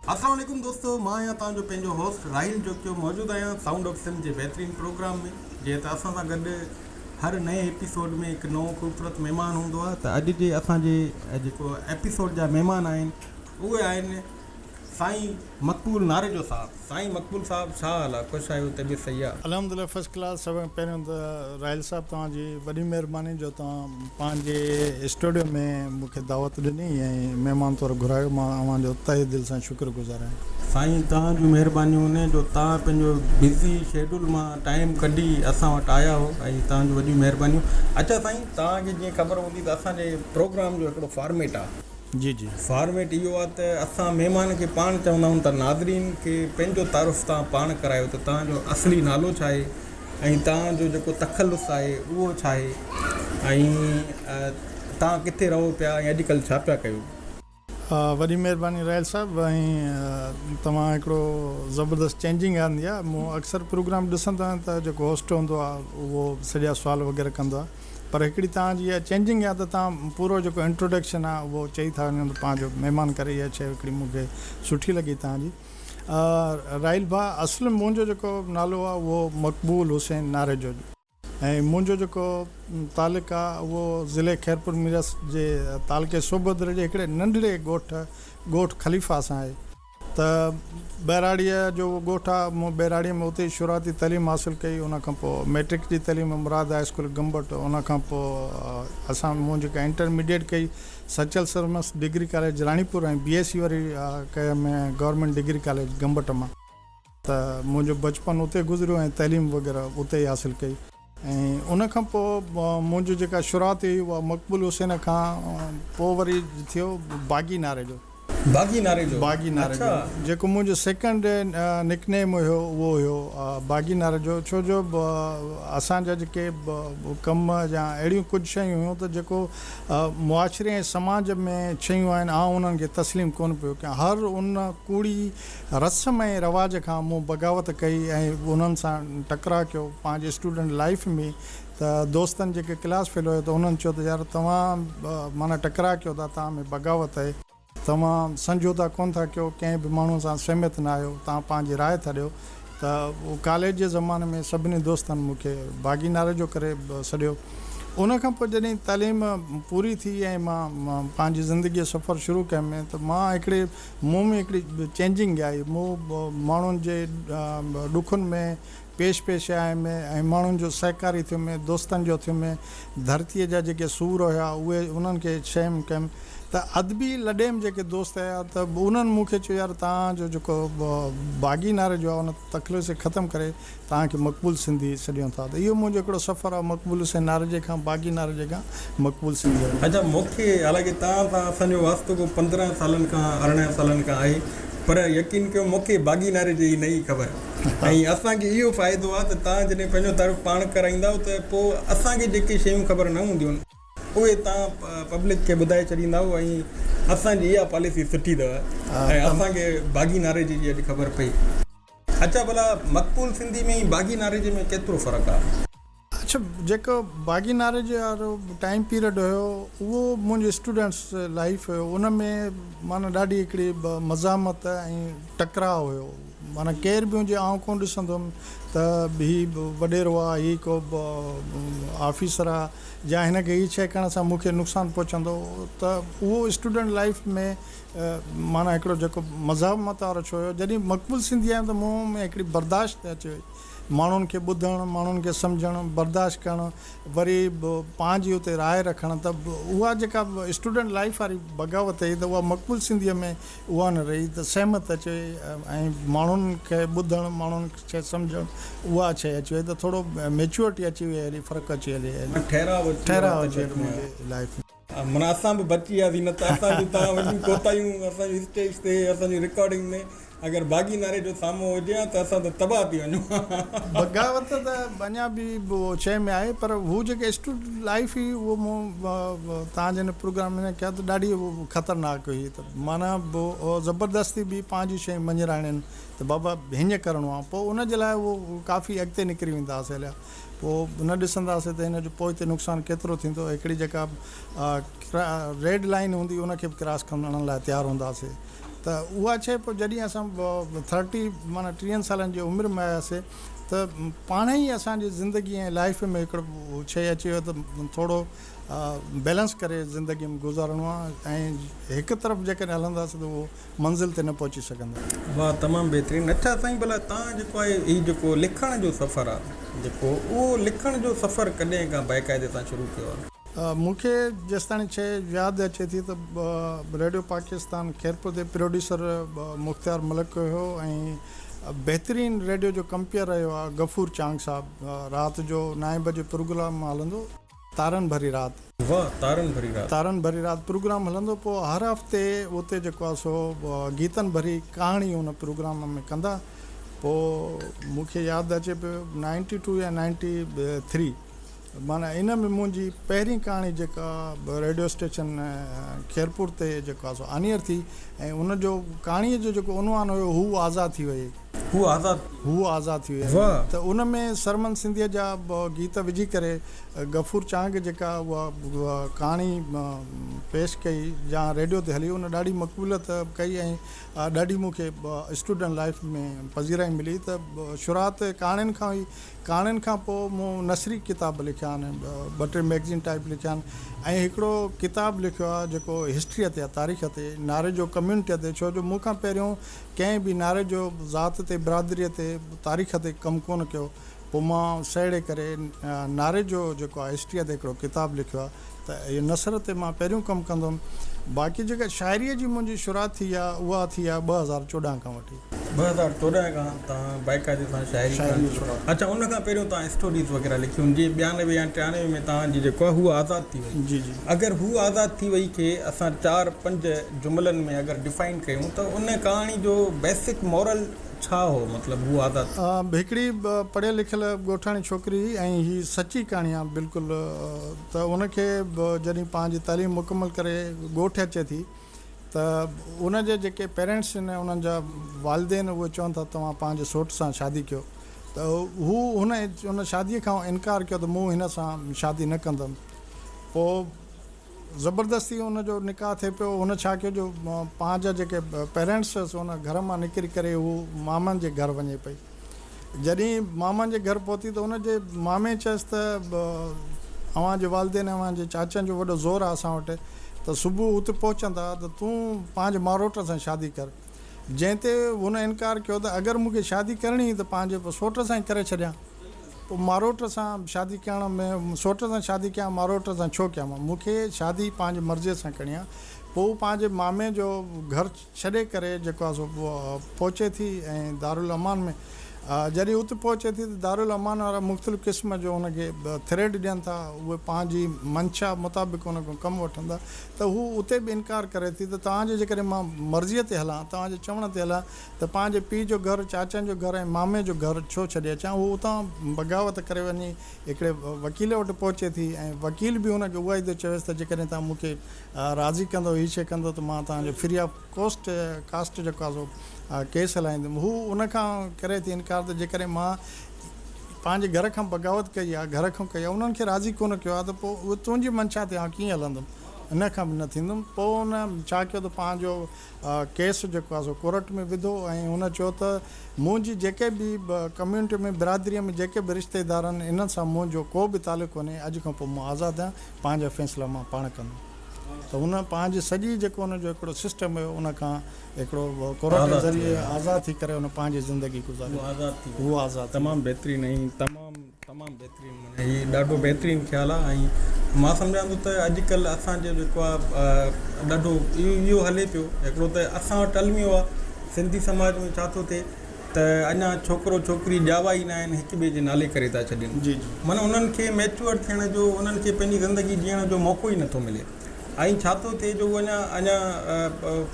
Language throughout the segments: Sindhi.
السلام عليڪم دوستو مان آهيان توهان جو پنهنجو هوسٽ راحيل جوکيو موجود آهيان سائونڊ آف سنڌ جي بهترين پروگرام ۾ جنهن تي اسان سان گڏ هر نئين ايپيسوڊ ۾ هڪ نئون خوبصورت مهمان هوندو آهي ته اڄ جي اسان جي جيڪو ايپيسوڊ جا مهمان آهن اهي آهن سائين مقبول ناريجو صاحب. سائين مقبول صاحب ڇا حال آ خوش آھيو طبيعت صحيح آ. الحمد لله فرسٽ ڪلاس سڀ کان پهريون ته راحيل صاحب توهان جي وڏي مهرباني جو توهان پنهنجي اسٽوڊيو ۾ مون کي دعوت ڏني ۽ مهمان طور گهرايو مان اوهان جو تهه دل سان شڪر گذار آهيان. سائين توهان جون مهربانيون جو توهان پنهنجو بزي شيڊول مان ٽائيم ڪڍي اسان وٽ آيا آهو ۽ توهان جون وڏيون مهربانيون. اڇا سائين توهان کي جيئن خبر هوندي ته اسان جي پروگرام جو هڪڙو فارميٽ آ. جي جي فارميٽ اهو آ ته اسان مهمان کي پاڻ چوندا آهيون ته ناظرين کي پنهنجو تعارف تان پاڻ ڪرايو ته توهان جو اصلي نالو ڇا آهي ۽ توهان جو جيڪو تخلص آهي اهو ڇا آهي ۽ توهان ڪٿي رهو پيا ۽ اڄ ڪلهه ڇا پيا ڪيو. وڏي مهرباني راحيل صاحب ۽ توهان هڪڙو زبردست چينجنگ آندي آ مون اڪثر پروگرام ڏسندو آهيان ته جيڪو هوسٽ هوندو آ اهو سڄا سوال وغيره ڪندو آ پر هڪڙي توهان جي اها چينجنگ يا ته توهان پورو جيڪو انٽروڊڪشن آهي اهو چئي ٿا وڃو ته پنهنجو مهمان ڪري اها شيء هڪڙي مون کي سٺي لڳي توهان جي راحيل ڀاء اصل منهنجو جيڪو نالو آهي اهو مقبول حسين ناريجو جو ۽ منهنجو جيڪو تعلق آهي اهو ضلعي خيرپور ميرس جي تعلقي سوڀدر جي هڪڙي ننڍڙي ڳوٺ ڳوٺ خليفا سان آهي. ته ٻهراڙيء جو اهو ڳوٺ آهي. مون ٻهراڙيء ۾ اتي ئي شروعاتي تعليم حاصل ڪئي. ان کان پوء مئٽرڪ جي تعليم مراد هاء اسڪول گمبٽ. ان کان پوء اسان مون جيڪا انٽر ميڊيئيٽ ڪئي Sachal Sarmast degree college Ranipur ۽ B S C وري ڪيم گورنمينٽ ڊگري ڪاليج گمبٽ مان. ته منهنجو بچپن اتي گذريو ۽ تعليم وغيره اتي ئي حاصل ڪئي. ۽ ان کان پوء منهنجي جيڪا شروعات هئي اها مقبول حسين کان پوء وري ٿيو باغي ناري جو. باغي ناري جو؟ باغي ناري جو. جيڪو منهنجو سيڪنڊ نڪ نيم هيو اهو هيو باغي ناري جو. ڇو جو اسان جا جيڪي ڪم يا اهڙيون ڪجهه شيون هيون ته جيڪو معاشري ۽ سماج ۾ شيون آهن آئون انهن کي تسليم ڪونه پيو ڪيان. هر ان ڪوڙي رسم ۽ رواج کان مون بغاوت ڪئي ۽ انهن سان ٽڪراء ڪيو پنهنجي اسٽوڊنٽ لائيف ۾ ته دوستن جيڪي ڪلاس فيل هيو ته انهن چيو ته يار توهان معنيٰ ٽڪراء ڪيو ٿا توهان ۾ بغاوت اهي، توهان سمجهوتا ڪونه ٿا ڪيو، ڪنهن به ماڻهو سان سهمت نه آهيو، توهان پنهنجي راء ٿا ڏيو ته ڪاليج جي زماني ۾ سڀني دوستن مون کي باغي نعري جو ڪري سڏيو ان کان پوء جڏهن تعليم پوري ٿي ۽ مان پنهنجي زندگي جو سفر شروع ڪيم ته مان هڪڙي مون ۾ هڪڙي چينجنگ آئي، مون ماڻهن جي ڏکن ۾ پيش پيش آيم ۽ ماڻهن جو سهڪاري ٿيم، دوستن جو ٿيم، ڌرتيء جا جيڪي سور هيا اهي انهن کي شيم ڪيم ته ادبي لڏيم جيڪي دوست هيا ته انهن مون کي چيو يار توهان جو جيڪو باغي ناري جو آهي ان تخلص کي ختم ڪري توهان کي مقبول سنڌي سڏيون ٿا ته اهو منهنجو هڪڙو سفر آهي مقبول حسين نارنجي کان باقي نارنجي کان مقبول سنڌي آهي. اچا مون کي حالانڪه توهان سان اسان جو واسطو ڪو پندرهن سالن کان ارڙهن سالن کان آهي پر يقين ڪيو مون کي باقي نارنجي جي نه هئي خبر ۽ اسان کي اهو فائدو آهي ته توهان جڏهن پنهنجو تعارف پاڻ ڪرائيندائو ته پوء اسان کي جيڪي شيون خبر نه هونديون اهي توهان پبلڪ کي ٻڌائي ڇڏيندائو ۽ اسان جي اها پاليسي سٺي اٿو ۽ اسان کي باقي نارنجي جي اڄ خبر پئي. اڇا ڀلا مقبول سنڌي ۾ ۽ باغي ناريجي ۾ ڪيترو فرق آ. اڇا جيڪو باغي ناريجي وارو ٽائيم پيريڊ ھيو اھو منھنجي اسٽوڊنٽس لائيف ھيو ان ۾ معنيٰ ڏاڍي ھڪڙي مزاحمت ۽ ٽڪراء ھيو معنيٰ ڪير به ھجي آئون ڪون ڏسندو ھيم ته ھي وڏيرو آ ھي ڪو آفيسر آ يا ھن کي ھي شيء ڪرڻ سان مون کي نقصان پھچندو ته اھو اسٽوڊنٽ لائيف ۾ معنيٰ هڪڙو جيڪو مذهب مان تعارف ڇو هيو، جڏهن مقبول سنڌي آيم ته مون ۾ هڪڙي برداشت ته اچي وئي، ماڻهن کي ٻڌڻ، ماڻهن کي سمجهڻ، برداشت ڪرڻ، وري به پنهنجي اتي راء رکڻ ته اها جيڪا اسٽوڊنٽ لائيف واري بغاوت هئي ته اها مقبول سنڌيء ۾ اها نه رهي ته سهمت اچي وئي ۽ ماڻهن کي ٻڌڻ، ماڻهن کي سمجهڻ اها شيء اچي وئي ته ٿورو ميچوئرٽي اچي وئي هلي، فرق اچي هلي هلي، ٺهراء اچي ويو آهي منهنجي لائيف ۾. من اسان به بچي وياسين نه ته اسان جون تان وڏيون ڪوتاهيون اسان جي اسٽيج تي اسان جي رڪارڊنگ ۾ اگر باغي ناري جو سامو هجي ها ته اسان ته تباهه ٿي وڃون ها. بغاوت ته اڃا به شيء ۾ آهي پر هو جيڪي اسٽوڊ لائيف هئي اهو مون تان جي هن پروگرام ۾ ڪيا ته ڏاڍي خطرناڪ هئي ته معنيٰ زبردستي به پنهنجي شيء مڃراڻين ته بابا هينئن ڪرڻو آهي پوء ان جي لاء اهو ڪافي اڳتي نڪري ويندا هئاسين هليا پوء نه ڏسنداسين ته هن جو پوئتي نقصان ڪيترو ٿيندو. هڪڙي جيڪا ريڊ لائين هوندي ان کي به ڪراس ڪرڻ لاء تيار هونداسين ته اها شيء پوء جڏهن اسان ٿرٽي معنيٰ ٽيهن سالن جي عمر ۾ آياسين ته پاڻهي ئي اسان جي زندگي ۽ لائيف ۾ هڪڙو شيء اچي ويو ته ٿورو بيلنس ڪري زندگي ۾ گذارڻو آهي ۽ هڪ طرف جيڪڏهن هلنداسين ته اهو منزل تي نه پهچي سگهندا. واھ تمام بهترين. اچھا سائين ڀلا تان جيڪو آهي هي جيڪو لکڻ جو سفر آ جيڪو اهو لکڻ جو سفر ڪڏهن کان باقاعدي سان شروع ڪيو آ. مون کي جيستاڻي شيء ياد اچي ٿي ته ريڊيو پاڪستان خيرپور تي پروڊيوسر مختيار ملڪ هيو ۽ بهترين ريڊيو جو ڪمپيئر رهيو آ غفور چانگ صاحب رات جو نائين بجي پروگرام هلندو تارن ڀري رات. واه تارن ڀري رات. تارن ڀري رات پروگرام هلندو پوء هر هفتي اتي جيڪو آ سو گيتن ڀري ڪهاڻي ان پروگرام ۾ ڪندا پوء مون کي ياد اچي پيو نائنٽي ٽو يا نائنٽي ٿري معنيٰ ان ۾ منهنجي پهرين ڪهاڻي جيڪا ريڊيو اسٽيشن خيرپور تي جيڪو آ سو آنيئر ٿي ۽ ان جو ڪهاڻي جو جيڪو عنوان هيو هو آزاد ٿي ويئي. هو آزاد ٿي ويو. هو آزاد ٿي ويو ۽ ته ان ۾ سرمن سنڌيء جا گيت وجهي ڪري غفور چانگ جيڪا اها ڪهاڻي پيش ڪئي جا ريڊيو تي هلي ان ڏاڍي مقبوليت ڪئي ۽ ڏاڍي مون کي اسٽوڊنٽ لائيف ۾ پذيرائي ملي ته شروعات ڪهاڻين کان هئي ڪهاڻين کان پوء مون نثري ڪتاب لکيا آهن ٻه ٽي ميگزين ٽائيپ لکيا آهن ۽ هڪڙو ڪتاب لکيو آهي جيڪو هسٽريء تي آهي تاريخ تي ناريجو ڪميونٽيء تي ڇو جو مون کان پهريون ڪنهن به نعري جو ذات تي، برادريء تي، تاريخ تي ڪم ڪونه ڪيو. پوء مان سهيڙي ڪري نعري جو جيڪو آهي هسٽريء تي هڪڙو ڪتاب لکيو آهي ته اهي نثر تي مان پهريون ڪم ڪندم. باقي جيڪا شاعريء جي منهنجي شروعات ٿي آهي اها ٿي آهي ٻه هزار چوڏهن کان وٺي. ٻه هزار چوڏهن کان توهان بائقاعدي سان شاعري ڪرڻ شروع ڪئي. اچا ان کان پهريون توهان اسٽوريز وغيره لکيون جي ٻيانوي يا ٽيانوي ۾ توهان جي جيڪو آهي هوء آزاد ٿي وئي. اگر هو آزاد ٿي وئي کي اسان چار پنج جملن ۾ اگر ڊفائن ڪيون ته ان ڪهاڻي جو بيسڪ مورل ڇا هو مطلب هو آزاد. هڪڙي پڙهيل لکيل ڳوٺاڻي ڇوڪري هئي ۽ هي سچي ڪهاڻي آهي بلڪل ته ان کي جڏهن پنهنجي تعليم مڪمل ڪري ڳوٺ اچي ٿي ته ان جي جيڪي پيرينٽس آهن انهن جا والدين اهي چون ٿا توهان پنهنجي سوٽ سان شادي ڪيو ته هو هن شادي کان انڪار ڪيو ته مون هن سان شادي نه ڪندم. پوء زبردستي ان جو نڪاح ٿئي پيو. هن ڇا ڪيو جو پان جا جيڪي پيرينٽس هئس ان گهر مان نڪري ڪري هوء مامن جي گهر وڃي پئي. جڏهين مامن جي گهر پهتي ته ان جي مامي چيس ته اوهان جي والدين ۽ اوهان جي چاچن جو وڏو زور آ اسان وٽ ته صبح اتي پهچندا ته تون پنهنجي ماروٽ سان شادي ڪر. جنهن تي هن انڪار ڪيو ته اگر مون کي شادي ڪرڻي هئي ته پنهنجي سوٽ سان ئي ڪري ڇڏيان. پوء ماروٽ سان شادي ڪيان ۾ سوٽ سان شادي ڪيان ماروٽ سان ڇو ڪيان مان مون کي شادي پنهنجي مرضي سان ڪرڻي آهي پوء هو پنهنجي مامي جو گهر ڇڏي ڪري جيڪو آهي سو پهچي ٿي ۽ دارالامان ۾ جڏهن اتي پهچي ٿي ته دارالامان وارا مختلف قسم جو هن کي ٿريڊ ڏين ٿا اهي پنهنجي منشا مطابق هن کان ڪم وٺن ٿا ته هو اتي به انڪار ڪري ٿي ته توهان جي جيڪڏهن مان مرضي تي هلان توهان جي چوڻ تي هلان ته پنهنجي پيء جو گهر، چاچن جو گهر ۽ مامي جو گهر ڇو ڇڏي اچان. هوء اتان بغاوت ڪري وڃي هڪڙي وڪيل وٽ پهچي ٿي ۽ وڪيل به هن کي اهائي ٿو چويس ته جيڪڏهن توهان مون کي راضي ڪندؤ، هي شيء ڪندؤ ته مان توهان جو فري آف ڪوسٽ، ڪاسٽ جيڪو آهي سو ڪيس هلائيندم. هوء ان کان ڪري ٿي انڪار ته جيڪڏهن مان پنهنجي گهر کان بغاوت ڪئي آهي، گهر کان ڪئي آهي، انهن کي راضي ڪونه ڪيو آهي ته پوء اهو تنهنجي منشا تي آئون ڪيئن هلندم، ان کان به نه ٿيندم. پوء هن ڇا ڪيو ته پنهنجو ڪيس جيڪو آهي سو ڪورٽ ۾ وڌو ۽ هن چيو ته منهنجي جيڪي به ڪميونٽي ۾ برادري ۾ جيڪي به رشتيدار آهن انهن سان منهنجو ڪو به تعلق ڪونهي اڄ کان پوء مان آزاد آهيان پنهنجا فيصلا مان پاڻ ڪندم ته هن پنهنجي سڄي جيڪو هن جو هڪڙو سسٽم هيو ان کان هڪڙو ڪورٽ جي ذريعي آزاد ٿي ڪري هن پنهنجي زندگي گذاري هو آزاد ٿي ويو. تمام بهترين ۽ تمام تمام بهترين معنيٰ هي ڏاڍو بهترين خيال آهي ۽ مان سمجهان ٿو ته اڄ ڪلهه اسان جو جيڪو آهي ڏاڍو اهو هلي پيو هڪڙو ته اسان وٽ الميو آهي سنڌي سماج ۾ ڇا ٿو ٿئي ته اڃا ڇوڪرو ڇوڪري ڄاوا ئي ناهن هڪ ٻئي جي نالي ڪري ٿا ڇڏين معنيٰ انهن کي ميچوئر ٿيڻ جو انهن کي پنهنجي زندگي جيئڻ جو موقعو ئي نٿو ملي ۽ ڇا ٿو ٿئي جو اڃا اڃا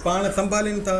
پاڻ سنڀالين ٿا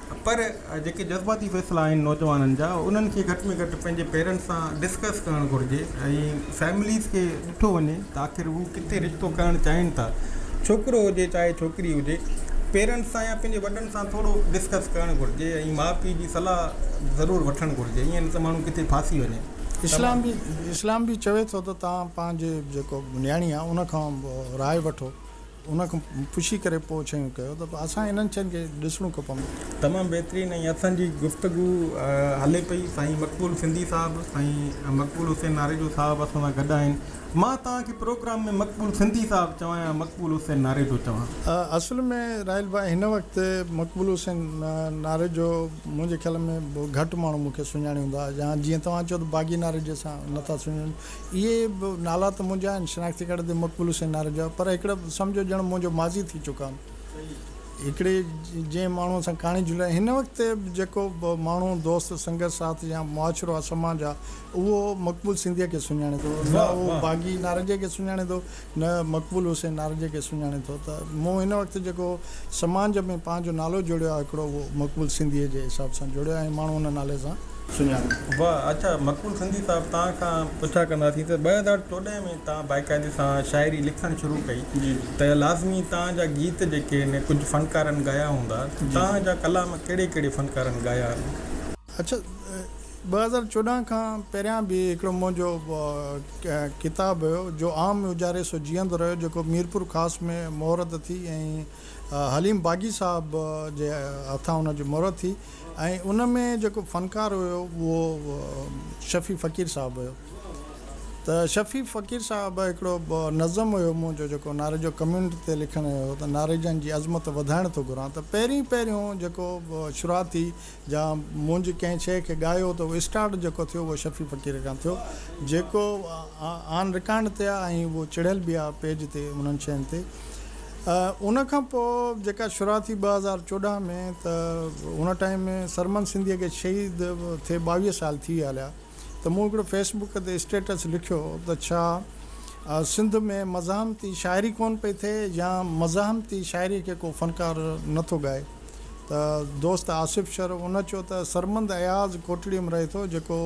پر جيڪي جذباتي فيصلا آهن نوجوانن جا انهن کي گهٽ ۾ گهٽ پنهنجي پيرنٽس سان ڊسڪس ڪرڻ گهرجي ۽ فيمليز کي ڏٺو وڃي ته آخر هو ڪٿي رشتو ڪرڻ چاهين ٿا ڇوڪرو هجي چاهي ڇوڪري هجي پيرنٽس سان يا پنهنجي وڏن سان ٿورو ڊسڪس ڪرڻ گهرجي ۽ ماء پيء جي صلاح ضرور وٺڻ گهرجي ائين نه ته ماڻهو ڪٿي ڦاسي وڃي. اسلام به اسلام به چوي ٿو ته توهان پنهنجي جيڪو نياڻي آهي ان کان راء وٺو. ان کان پڇي ڪري پوء ڇيون ڪيو ته اسان انهن شين کي ڏسڻو کپندو. تمام بهترين ۽ اٿن جي گفتگو هلي پئي سائين مقبول سنڌي صاحب سائين مقبول حسين ناريجو صاحب اسان سان گڏ آهن مان توهان کي پروگرام ۾ مقبول سنڌي صاحب چوان يا مقبول حسين ناريجو چوان. اصل ۾ راحيل ڀاء هن وقت مقبول حسين ناريجو منهنجي خيال ۾ گهٽ ماڻهو مون کي سڃاڻي هوندا يا جيئن توهان چيو ته باغي ناريجي سان نٿا سڃاڻن اهي به نالا ته منهنجا آهن، شناختي ڪارڊ تي مقبول حسين نارنج آهي، پر هڪڙا سمجهو ڄڻ منهنجو ماضي ٿي چڪا آهن. هڪڙي جنهن ماڻهوء سان ڪهاڻي جڙائي، هن وقت به جيڪو به ماڻهو، دوست، سنگت ساٿ يا معاشرو آهي سماج آهي، اهو مقبول سنڌيء کي سڃاڻي ٿو، نه اهو باغي نارنجيء کي سڃاڻي ٿو، نه مقبول حسين نارنجي کي سڃاڻي ٿو ته مون هن وقت جيڪو سماج ۾ پنهنجو نالو جوڙيو آهي هڪڙو اهو مقبول سنڌيء جي حساب سان جوڙيو آهي ۽ ماڻهو ان نالي سان سڃاڻن ٿا. واهه اچا مقبول سنڌي صاحب توهان کان پڇا ڪنداسين ته ٻه هزار چوڏهن ۾ توهان باقاعدي سان شاعري لکڻ شروع ڪئي ته لازمي توهان جا گيت جيڪي هن ڪجهه فنڪارن ڳايا هوندا ته توهان جا ڪلام ڪهڙي ڪهڙي فنڪارن ڳايا آهن؟ اچا ٻه هزار چوڏهن کان پهريان به هڪڙو منهنجو ڪتاب هيو جو عام اجاري سو جيئندو رهيو جيڪو ميرپور خاص ۾ مهر ته ٿي ۽ حليم باغي صاحب جي هٿان ان جي مهر ٿي ۽ ان ۾ جيڪو فنڪار هيو اهو شفيع فقير صاحب هيو ته شفيع فقير صاحب هڪڙو نظم هيو منهنجو جيڪو ناريجو ڪميونٽ تي لکڻ هيو ته ناريجن جي عظمت وڌائڻ ٿو گهران ته پهرين پهريون جيڪو شروعاتي جا منهنجي ڪنهن شيء کي ڳايو ته اهو اسٽارٽ جيڪو ٿيو اهو شفيع فقير کان ٿيو جيڪو آن رڪارڊ تي آهي ۽ اهو چڙهيل به آهي پيج تي انهن شين تي ان کان پوء جيڪا شروع ٿي ٻه هزار چوڏهن ۾ ته ان ٽائيم ۾ سرمن سنڌيء کي شهيد ٿئي ٻاويهه سال ٿي ويا هليا ته مون هڪڙو فيس بڪ تي اسٽيٽس لکيو ته ڇا سنڌ ۾ مزاحمتي شاعري ڪونه پئي ٿئي يا مزاحمتي شاعري کي ڪو فنڪار نه ٿو ڳائي ته دوست آصف شر ان چيو ته سرمند اياز ڪوٽڙي م رهي ٿو جيڪو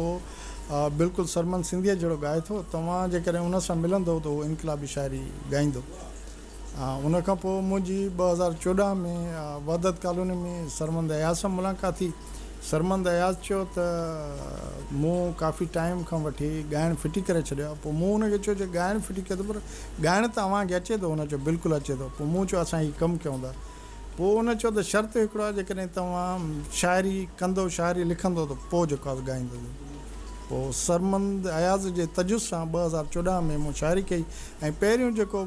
بلڪل سرمند سنڌيء جهڙو ڳائي ٿو توهان جيڪڏهن ان سان ملندؤ ته هو انقلابي شاعري ڳائيندو ان کان پوء منهنجي ٻه هزار چوڏهن ۾ وحدت ڪالوني ۾ سرمند اياز سان ملاقات ٿي سرمند اياز چيو ته مون ڪافي ٽائيم کان وٺي ڳائڻ ڦٽي ڪري ڇڏيو آهي پوء مون ان کي چيو جي ڳائڻ ڦٽي ڪيو ته پر ڳائڻ ته اوهان کي اچي ٿو ان چيو بلڪل اچي ٿو پوء مون چيو اسان هي ڪم ڪيون ٿا پوء هن چيو ته شرط هڪڙو آهي جيڪڏهن توهان شاعري ڪندو شاعري لکندو ته پوء جيڪو آهي سو ڳائيندو به. پوء سرمند اياز جي تجويز سان ٻه هزار چوڏهن ۾ مون شاعري ڪئي ۽ پهريون جيڪو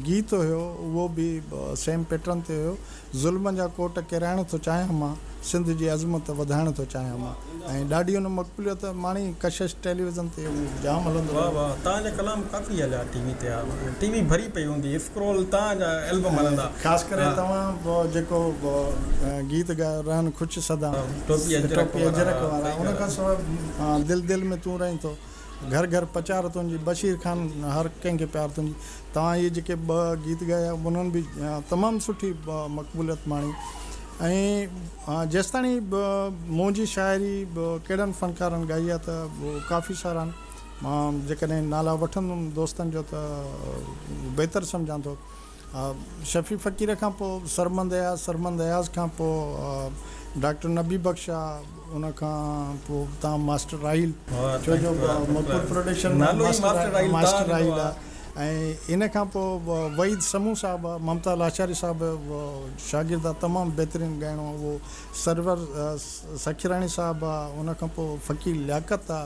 گيت هيو اهو به سيم پيٽرن تي هيو، ظلمن جا ڪوٽ ڪيرائڻ ٿو چاهيان مان. سنڌ جي عظمت وڌائڻ ٿو چاهيان مان ۽ ڏاڍي ان مقبوليت ماڻي ڪشش ٽيليويزن تي اهو جام هلندو رهيو. واه واه تان جا ڪلام ڪافي هليا ٽي وي تي ها ٽي وي ڀري پئي هوندي اسڪرول تان جا البم هلندا خاص ڪري توهان جيڪو گيت ڳايو رهن خوش سدا ٽوپي اجرڪ وارا ان کان سواء دل دل ۾ تون رهين ٿو. گهر گهر پچار تنهنجي بشير خان هر ڪنهن کي پيار تنهنجي توهان اهي جيڪي ٻه گيت ڳايا انهن به تمام سٺي مقبوليت ماڻي ۽ جيستاڻي منهنجي شاعري ڪهڙن فنڪارن ڳائي آهي ته ڪافي سارا آهن مان جيڪڏهن نالا وٺندم دوستن جو ته بهتر سمجهان ٿو ها شفيع فقير کان پوء سرمند اياز سرمند اياز کان پوء ڊاڪٽر نبي بخش آ ان کان پوء تان ماسٽر راحيل ڇو جو مقبول پروڊڪشن ۾ ماسٽر راحيل آ ۽ ان کان پوء وحيد سمون صاحب آ ممتا لاشاري صاحب جو شاگرد آ تمام بهترين ڳائڻو آ اهو سرور سکيراڻي صاحب آ ان کان پوء فقير لياقت آ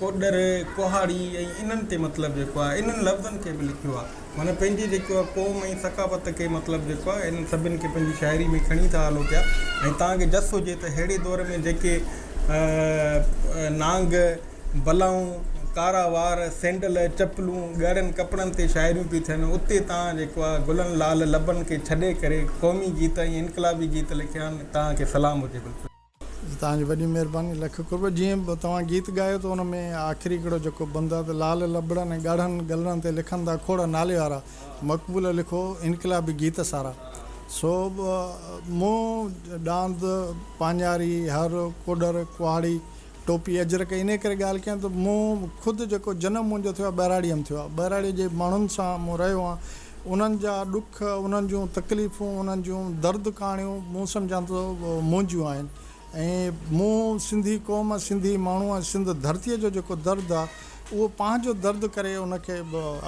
ڪوڏر، ڪهاڙي ۽ انهن تي مطلب جيڪو آهي انهن لفظن کي به لکيو آهي معنيٰ پنهنجي جيڪو آهي قوم ۽ ثقافت کي مطلب جيڪو آهي انهن سڀن کي پنهنجي شاعري ۾ کڻي ٿا هلو پيا ۽ توهان کي جس هجي ته ههڙي دور ۾ جيڪي نانگ، بلائون، ڪارا وار، سينڊل، چپلون، ڳاڙهن ڪپڙن تي شاعريون پيون ٿين اتي توهان جيڪو آهي گلن لال لبن کي ڇڏي ڪري قومي گيت ۽ انقلابي گيت لکيا آهن توهان کي سلام هجي بلڪل. جي توهان جي وڏي مهرباني لک قرب. جيئن به توهان گيت ڳايو ته ان ۾ آخري ڪڙو جيڪو بند آ ته لال لبڙن ۽ ڳاڙهن ڳلڙن تي لکن ٿا کوڙ نالي وارا مقبول لکو انقلابي گيت سارا سو مون ڏاند پاڃاري هر ڪوڏر ڪهاڙي ٽوپي اجرڪ انهي ڪري ڳالهه ڪيان ته مون خود جيڪو جنم منهنجو ٿيو آ ٻهراڙي م ٿيو آ ٻهراڙي جي ماڻهن سان مون رهيو آ انهن جا ڏک، انهن جون تڪليفون، انهن جون درد ڪهاڻيون مون سمجهان ٿو منهنجيون آهن ۽ مون سنڌي قوم، سنڌي ماڻهو ۽ سنڌ ڌرتيء جو جيڪو درد آ اهو پنهنجو درد ڪري ان کي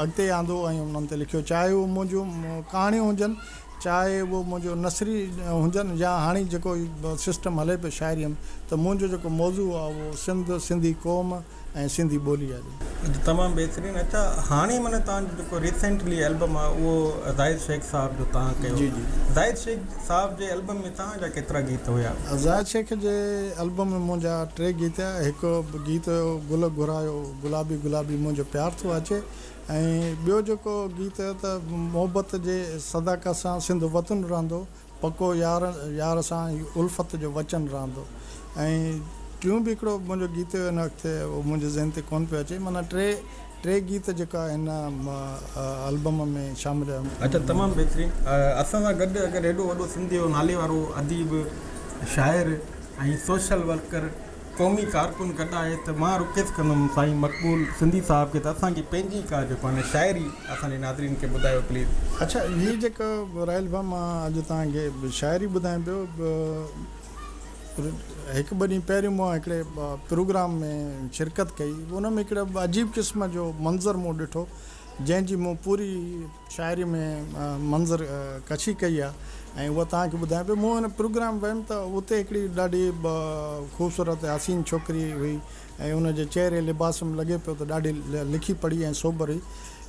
اڳتي آندو ۽ انهن تي لکيو چاهي اهو منهنجون ڪهاڻيون هجن چاهي اهو منهنجو نثري هجن يا هاڻي جيڪو سسٽم هلي پيو شاعريء ۾ ته منهنجو جيڪو موضوع آ اهو سنڌ، سنڌي قوم. ۽ سنڌي ٻولي جا ڏينهن. جي تمام بهترين اچا هاڻي من تان جو جيڪو ريسينٽلي البم آ اهو زاهد شيخ صاحب جو تان ڪيو جي جي زاهد شيخ صاحب جي البم ۾ تان جا ڪيترا گيت هيا. زاهد شيخ جي البم ۾ منهنجا ٽي گيت هيا هڪ گيت هيو گل گهرايو گلابي گلابي منهنجو پيار ٿو اچي ۽ ٻيو جيڪو گيت هيو ته محبت جي صداقت سان سنڌ وطن رهندو. پڪو يار يار سان هي الفت جو وچن رهندو ۽ ٽيون به هڪڙو منهنجو گيت هن وقت اهو منهنجي ذهن تي ڪون پيو اچي معنيٰ ٽي ٽي گيت جيڪا هن البم ۾ شامل اچن تمام بهترين اسان سان گڏ اگر هيڏو وڏو سنڌ جو ناليوارو اديب شاعر ۽ سوشل ورڪر قومي ڪارڪن گڏ آهي ته مان رڪويسٽ ڪندم سائين مقبول سنڌي صاحب کي ته اسان جي پنهنجي ڪا جيڪو آهي نه شاعري اسان جي ناظرين کي ٻڌايو پليز. اڇا هي جيڪا راحيل ڀاء مان اڄ توهان کي شاعري ٻڌايان پيو هڪ ٻه ڏينهن پهريون مان هڪڙي پروگرام ۾ شرڪت ڪئي ان ۾ هڪڙا عجيب قسم جو منظر مون ڏٺو جنهن جي مون پوري شاعري ۾ منظر ڪشي ڪئي آهي ۽ اها توهان کي ٻڌايان پيو. مون ان پروگرام ويم ته اتي هڪڙي ڏاڍي خوبصورت ۽ حسين ڇوڪري هئي ۽ ان جي چهري لباس ۾ لڳي پيو ته ڏاڍي لکي پڙهي ۽ سوبر هئي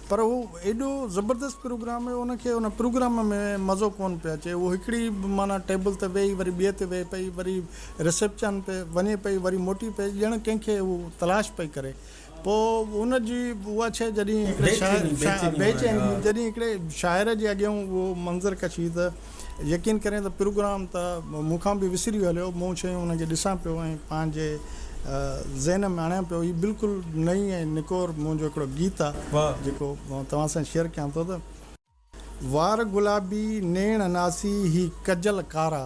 پر هو ايڏو زبردست پروگرام هيو ان کي ان پروگرام ۾ مزو ڪونه پيو اچي هو هڪڙي معنيٰ ٽيبل تي ويهي وري ٻئي تي ويهي پئي وري رسيپشن تي وڃي پئي وري موٽي پئي ڄڻ ڪنهن کي هو تلاش پئي ڪري پوء ان جي اها شيء جڏهن هڪڙي شاعر، بي چيني، جڏهن هڪڙي شاعر جي اڳيئون اهو منظر ڪشي ته يقين ڪرين ته پروگرام ته مون کان به وسري هليو، مون شيون انهن کي ڏسان پيو ۽ پنهنجي ذهن ۾ آڻيان پيو. هي بلڪل نئين ۽ نڪور منهنجو هڪڙو گيت آهي جيڪو توهان سان شيئر ڪيان ٿو ته. وار گلابي نيڻ ناسي هي ڪجل ڪارا.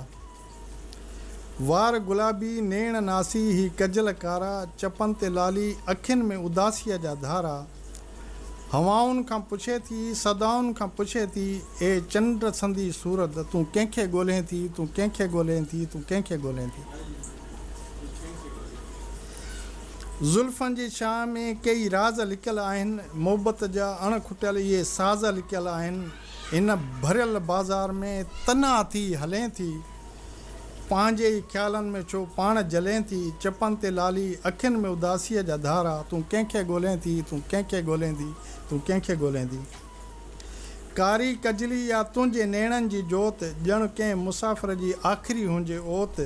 وار گلابي نيڻ ناسي هي ڪجل ڪارا، چپن تي لالي، اکين ۾ اداسيء جا ڌارا. هوائن کان پڇي ٿي، صدائن کان پڇي ٿي، اي چنڊ سندي صورت، تون ڪنهن کي ڳولهين ٿي، تون ڪنهن کي ڳولهين ٿي، تون ڪنهن کي ڳولهين ٿي. زلفن جي ڇانء ۾ ڪيئي راز لڪيل آهن، محبت جا اڻ کٽيل اهي ساز لڪيل آهن، هن ڀريل بازار ۾ تنها ٿي هلين ٿي، پنهنجي ئي خيالن ۾ ڇو پاڻ جلين ٿي، چپن تي لالي، اکين ۾ اداسيء جا ڌارا، تون ڪنهن کي ڳوليندي، تون ڪنهن کي ڳوليندي، تون ڪنهن کي ڳوليندي. ڪاري ڪجلي يا تنهنجي نيڻن جي جوت، ڄڻ ڪنهن مسافر جي آخري هنجي اوت،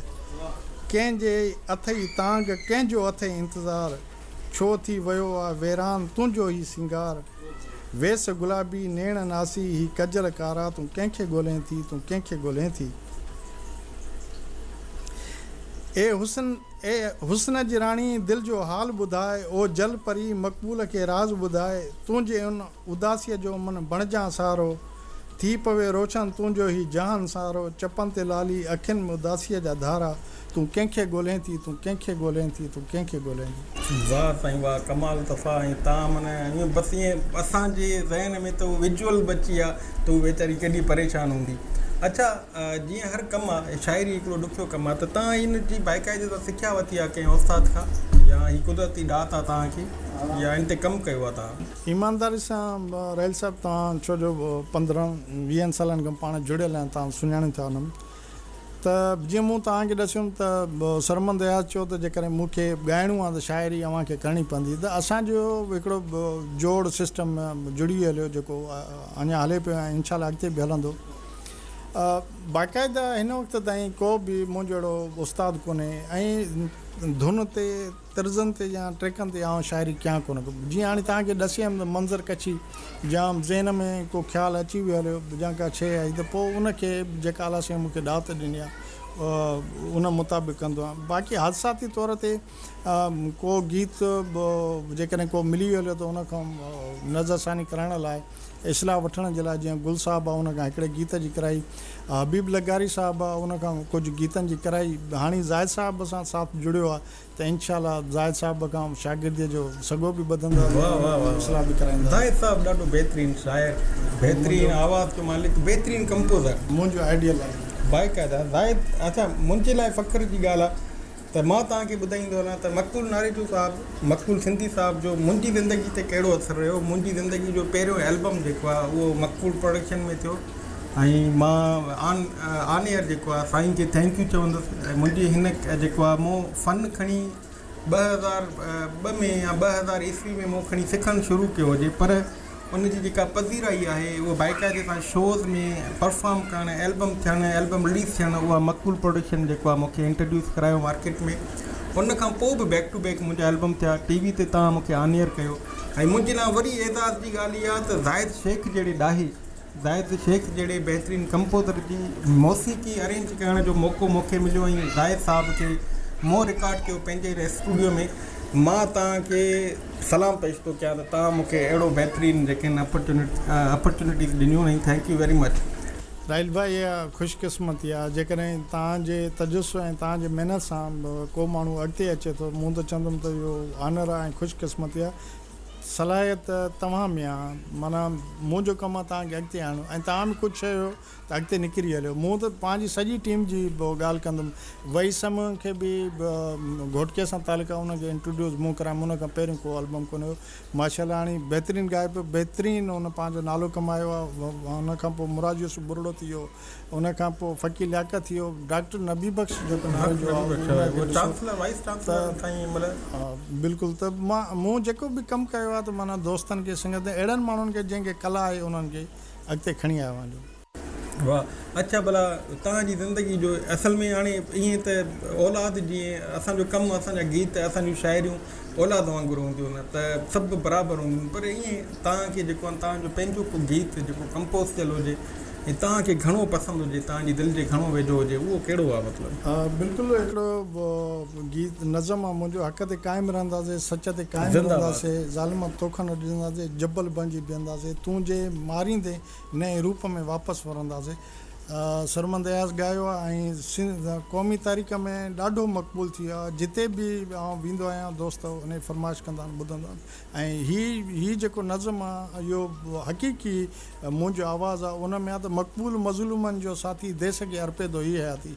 ڪنهن جي اٿئي تانگهه، ڪنهن جو اٿئي انتظار، ڇو ٿي ويو آ ويران تنهنجو هي سينگار، ويس گلابي، نيڻ ناسي، هي ڪجل ڪارا، تون ڪنهن کي ڳولين ٿي، تون ڪنهن کي ڳولين ٿي. اي حسن، اي حسن جي راڻي، دل جو حال ٻڌاء، او جل پري، مقبول کي راز ٻڌاء، تنهنجي ان اداسيء جو من بڻجان سارو، ٿي پوي روشن تنهنجو هي جهان سارو، چپن تي لالي، اکين ۾ اداسيء جا ڌارا، تون ڪنهن کي ڳولهين ٿي، تون ڪنهن کي ڳولهين ٿي، تون ڪنهن کي ڳولهين ٿي. واه سائين واه ڪمال صفا ۽ تان من ائين بس ائين اسان جي ذهن ۾ ته وجوئل بچي آ ته هو ويچاري ڪيڏي پريشان هوندي اڇا جيئن هر ڪم آ شاعري هڪڙو ڏکيو ڪم آ ته تان ان جي بائقاعدي سان سکيا ورتي آ ڪنهن استاد کان يا هي قدرتي ڏات آ تان کي. يا ان تي ڪم ڪيو اٿا؟ ايمانداري سان رحيل صاحب توهان ڇو جو پندرهن ويهن سالن کان پاڻ جڙيل آهيان توهان سڃاڻين ٿا انم ته جيئن مون توهان کي ڏسيم ته سرمند اياز چيو ته جيڪڏهن مون کي ڳائڻو آهي ته شاعري اوهان کي ڪرڻي پوندي ته اسان جو هڪڙو جوڙ سسٽم جڙي هليو جيڪو اڃان هلي پيو ۽ انشاء الله اڳتي به هلندو باقاعده هن وقت تائين ڪو به منهنجو اهڙو استاد ڪونهي ۽ ڌن تي طرزن تي يا ٽريڪن تي آئون شاعري ڪيان ڪونه ٿو. جيئن هاڻي توهان کي ڏسيم ته منظر ڪڇي جام ذهن ۾ ڪو خيال اچي به هليو يا ڪا شيء آئي ته پوء ان کي به جيڪا اعليٰ سائين مون کي ڏات ڏني آهي ان مطابق ڪندو آهيان. باقي حادثاتي طور تي ڪو گيت به جيڪڏهن ڪو ملي هليو ته ان کان نظر ثاني ڪرائڻ لاء، اصلاح وٺڻ جي لاء جيئن گل صاحب ان کان هڪڙي گيت جي ڪرائي، حبيب لغاري صاحب ان کان ڪجهه گيتن جي ڪرائي، هاڻي زاهد صاحب سان ساٿ جڙيو آهي ته انشاء الله زاهد صاحب کان شاگرديء جو سڳو به ٻڌندا ۽ اصلاح به ڪرائيندا. زاهد صاحب ڏاڍو بهترين شاعر، بهترين آواز جو مالڪ، بهترين ڪمپوزر. منهنجو آئيڊيل آهي. باقاعده زاهد اڇا منهنجي لاء فخر جي ڳالهه آهي ته مان توهان کي ٻڌائيندو هلان ته مقبول ناريجو صاحب، مقبول سنڌي صاحب جو منهنجي زندگي تي ڪهڙو اثر رهيو. منهنجي زندگي جو پهريون البم جيڪو آهي اهو مقبول پروڊڪشن ۾ ٿيو. ۽ مان آن آن ايئر جيڪو آ سائين کي ٿينڪ يو چوندس ۽ منهنجي هن جيڪو آ مون فن کڻي ٻه هزار ٻه ۾ يا ٻه هزار عيسوي ۾ مون کڻي سکڻ شروع ڪيو هجي پر ان جي جيڪا پذيرائي آهي هو بائقاعدي سان شوز ۾ پرفام ڪرڻ البم ٿيڻ البم رليز ٿيڻ اها مقبول پروڊڪشن جيڪو آ مون کي انٽرڊيوس ڪرايو مارڪيٽ ۾ ان کان پوء به بيڪ ٽو بيڪ منهنجا البم ٿيا ٽي وي تي تان مون کي آن ايئر ڪيو ۽ منهنجي لا وري اعزاز جي ڳالهه اها ته زاهد شيخ جهڙي ڏاهي زاهد شيخ جهڙي بهترين ڪمپوزر جي موسيقي ارينج ڪرڻ جو موقعو مون کي مليو ۽ زاهد صاحب کي مون رڪارڊ ڪيو پنهنجي هن اسٽوڊيو ۾ مان توهان کي سلام پيش ٿو ڪيان ته توهان مون کي اهڙو بهترين جيڪن اپرچونٽيز ڏنيون ۽ thank you very much. Zahid ڀاء اها خوش قسمتي آهي جيڪڏهن توهان جي تجسس ۽ توهان جي محنت سان ڪو ماڻهو اڳتي اچي ٿو مون ته چوندم ته اهو آنر آهي ۽ خوش قسمتي آهي. صلاحيت توهان ۾ آ معنيٰ منهنجو ڪم آ توهان کي اڳتي آڻڻ ۽ توهان به ڪجهه چيو ته اڳتي نڪري هليو مون ته پنهنجي سڄي ٽيم جي ڳالهه ڪندم وحيد سمون کي به گهوٽڪي سان تعلق آ ان کي انٽروڊيوس مون ڪرايم ان کان پهريون ڪو البم ڪونه هيو ماشا الله هاڻي بهترين ڳائي پيو بهترين ان پنهنجو نالو ڪمايو آ ان کان پوء مراد يوسف ٻرڙو ٿي ويو ان کان پوء فقير لياقت ٿيو، ڊاڪٽر نبي بخش جيڪو نالو جو آهي اهو ان کي ڏسو ته بلڪل ته مان مون جيڪو به ڪم ڪيو آهي ته معنيٰ دوستن کي سنگتن اهڙن ماڻهن کي جنهن کي ڪلا آهي انهن کي اڳتي کڻي آيو آهيان. واهه اڇا ڀلا توهان جي زندگي جو اصل ۾ هاڻي ائين ته اولاد جيئن اسان جو ڪم اسان جا گيت اسان جون شاعريون اولاد وانگر هونديون نه ته سڀ برابر هونديون پر ائين توهان کي جيڪو توهان جو پنهنجو ڪو گيت جيڪو ڪمپوز ٿيل هجي ۽ توهان کي گهڻو پسند هجي توهان جي دل جي گهڻو ويجهو هجي اهو ڪهڙو آهي مطلب. ها بلڪل هڪڙو گيت نظم آهي منهنجو حق تي قائم رهنداسي سچ تي قائم رهنداسي ظالم توکا نه ڊڄنداسي جبل بڻجي بيهنداسي تون جي ماريندين نئين روپ ۾ واپس ورنداسي سرمد اياز ڳايو آهي ۽ سنڌ قومي تاريخ ۾ ڏاڍو مقبول ٿي ويو آهي جتي به آئون ويندو آهيان دوست انهي فرمائش ڪندا آهن ٻڌندا آهن ۽ هي هي جيڪو نظم آهي اهو حقيقي منهنجو آواز آهي ان ۾ آهي ته مقبول مظلومن جو ساٿي ديس کي ارپي ٿو هي حياتي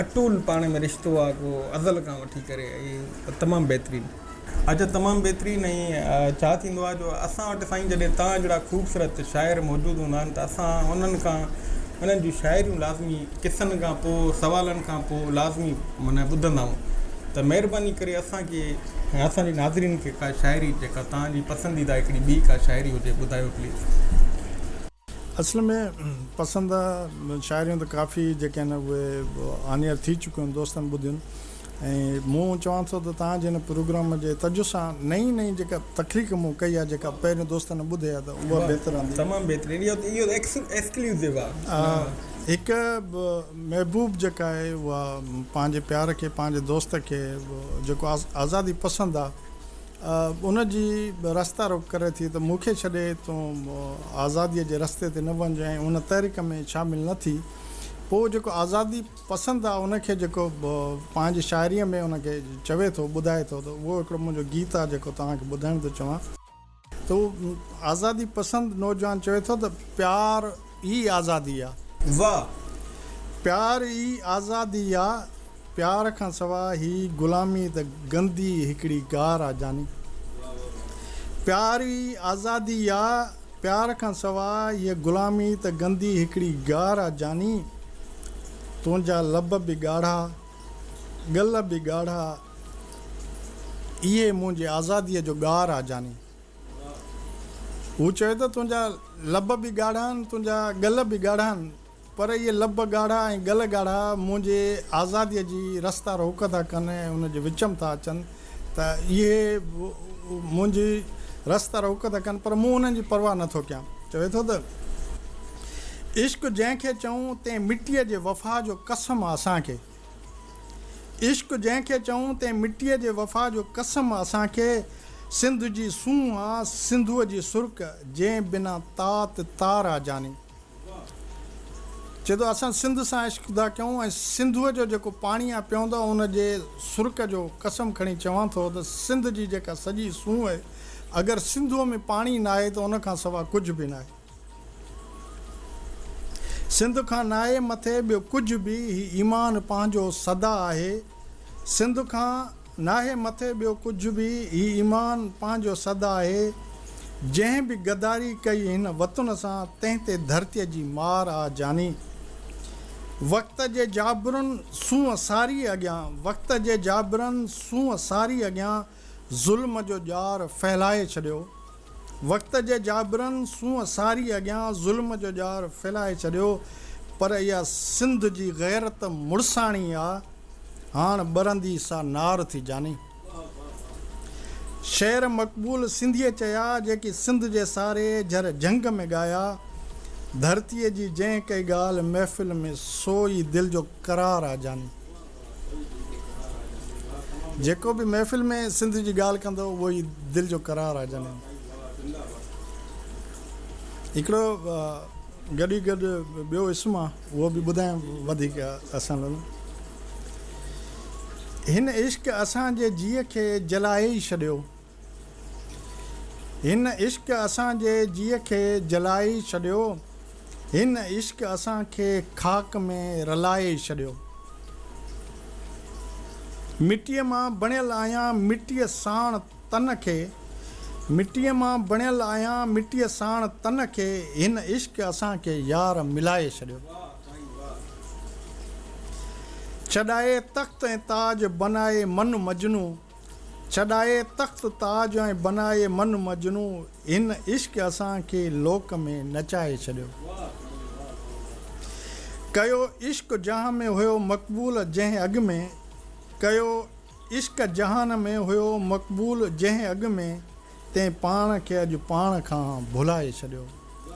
اٽول پاڻ ۾ رشتو آ ڪو ازل کان وٺي ڪري ۽ تمام بهترين. اچا تمام بهترين ۽ ڇا ٿيندو آ جو اسان وٽ سائين جڏهن توهان جهڙا خوبصورت شاعر موجود هوندا آهن ته اسان انهن کان انهن جون شاعريون لازمي قصن کان پو سوالن کان پو لازمي معنيٰ ٻڌندا آهون ته مهرباني ڪري اسان کي ۽ اسان جي ناظرين کي ڪا شاعري جيڪا توهان جي پسنديده هڪڙي ٻي ڪا شاعري هجي ٻڌايو پليز. اصل ۾ پسند شاعريون ته ڪافي جيڪي آهن اهي آن ايئر ٿي چڪيون آهن دوستن ٻڌيون ۽ مون چوان ٿو ته توهان جي هن پروگرام جي تجه سان نئين نئين جيڪا تخليق مون ڪئي آهي جيڪا پهرين دوستن ٻڌي آهي ته اها بهتر رهندي تمام بهترين اهو ته اهو ايڪسڪلوسو آهي هڪ محبوب جيڪا آهي اها پنهنجي پيار کي پنهنجي دوست کي جيڪو آزادي پسند آهي ان جي رستا روڪ ڪري ٿي ته مون کي ڇڏي تون آزاديء جي رستي تي نه وڃ ۽ ان تحريڪ ۾ شامل نه ٿي. پوء جيڪو آزادي پسند آ ان کي جيڪو پنهنجي شاعريء ۾ ان کي چوي ٿو ٻڌائي ٿو ته اهو هڪڙو منهنجو گيت آ جيڪو توهان کي ٻڌائڻ ٿو چوان. ته اهو آزادي پسند نوجوان چوي ٿو ته پيار ئي آزادي آ. واھ پيار ئي آزادي آ. پيار کان سوا هي غلامي ته گندي هڪڙي گار آ جاني. پيار ئي آزادي آ پيار کان سوا هي غلامي ته گندي هڪڙي گار آ جاني. تنهنجا لب به ڳاڙها ڳل به ڳاڙها اهي منهنجي آزادي جو ڳار آ جاني. هو چوي ٿو تنهنجا لب به ڳاڙها آهن تنهنجا ڳل به ڳاڙها آهن. پر اهي لب ڳاڙها ۽ ڳل ڳاڙها منهنجي آزاديء جي رستا روڪ ٿا ڪن ۽ ان جي وچم ٿا اچن ته اهي به منهنجي رستا روڪ ٿا ڪن پر مون انهن جي پرواهه نه ٿو ڪيان. چوي ٿو ته. عشق جنهن کي چئون تنهن مٽيء جي وفا جو قسم اسان کي عشق جنهن کي چئون تنهن مٽيء جي وفا جو قسم اسان کي سنڌ جي سونهن آ سنڌوء جي سرڪ جنهن بنا تات تار آ جاني. چئي ٿو اسان سنڌ سان عشق ٿا ڪيون ۽ سنڌوء جو جيڪو پاڻي آ پيئون ٿا ان جي سرڪ جو قسم کڻي چوان ٿو ته سنڌ جي جيڪا سڄي سونهن اهي اگر سنڌوء ۾ پاڻي ناهي ته ان کان سوا ڪجهه به ناهي سنڌ کان ناهي مٿي ٻيو ڪجهه به هي ايمان پنهنجو سدا آهي سنڌ کان ناهي مٿي ٻيو ڪجهه به، هي ايمان پنهنجو سد آهي، جنهن به غداري ڪئي هن وطن سان، تنهن تي ڌرتيء جي مار آ جاني. وقت جي جابرن سونهن ساريء اڳيان، وقت جي جابرن سونهن ساريء اڳيان، ظلم جو ڄار ڦهلائي ڇڏيو. وقت جي جابرن سونهن ساري اڳيان ظلم جو ڄار ڦهلائي ڇڏيو پر اها سنڌ جي غيرت مڙساڻي آ هاڻ ٻرندي سا نار ٿي جاني. شعر مقبول سنڌيء چيا جيڪي سنڌ جي ساري جھر جھنگ ۾ ڳايا ڌرتيء جي جنهن ڪئي ڳالهه محفل ۾ سو ئي دل جو قرار آ جاني. جيڪو به محفل ۾ سنڌ جي ڳالهه ڪندو اهو ئي دل جو قرار آهي جنهن هڪڙو گڏي گڏ ٻيو اسم آهي اهو به ٻڌايم وڌيڪ اسان لاء هن عشق اسان جي جيء کي جلائي ئي ڇڏيو هن عشق اسان جي جيء کي جلائي ڇڏيو هن عشق اسان کي خاڪ ۾ رلائي ڇڏيو مٽيء مان بڻيل آهيان مٽيء ساڻ تن کي مٽيء مان بڻيل آهيان مٽيء ساڻ تن کي هن عشق اسان کي يار ملائي ڇڏيو ڇڏائي تخت ۽ تاج بنائي من مجنون. ڇڏائي تخت تاج ۽ بنائي من مجنو هن عشق اسان کي لوڪ ۾ نچائي ڇڏيو ڪيو عشق جهان ۾ هيو مقبول جنهن اڳ ۾ ڪيو عشق جهان ۾ هيو مقبول جنهن اڳ ۾. تين پاڻ کي اڄ پاڻ کان ڀلائي ڇڏيو.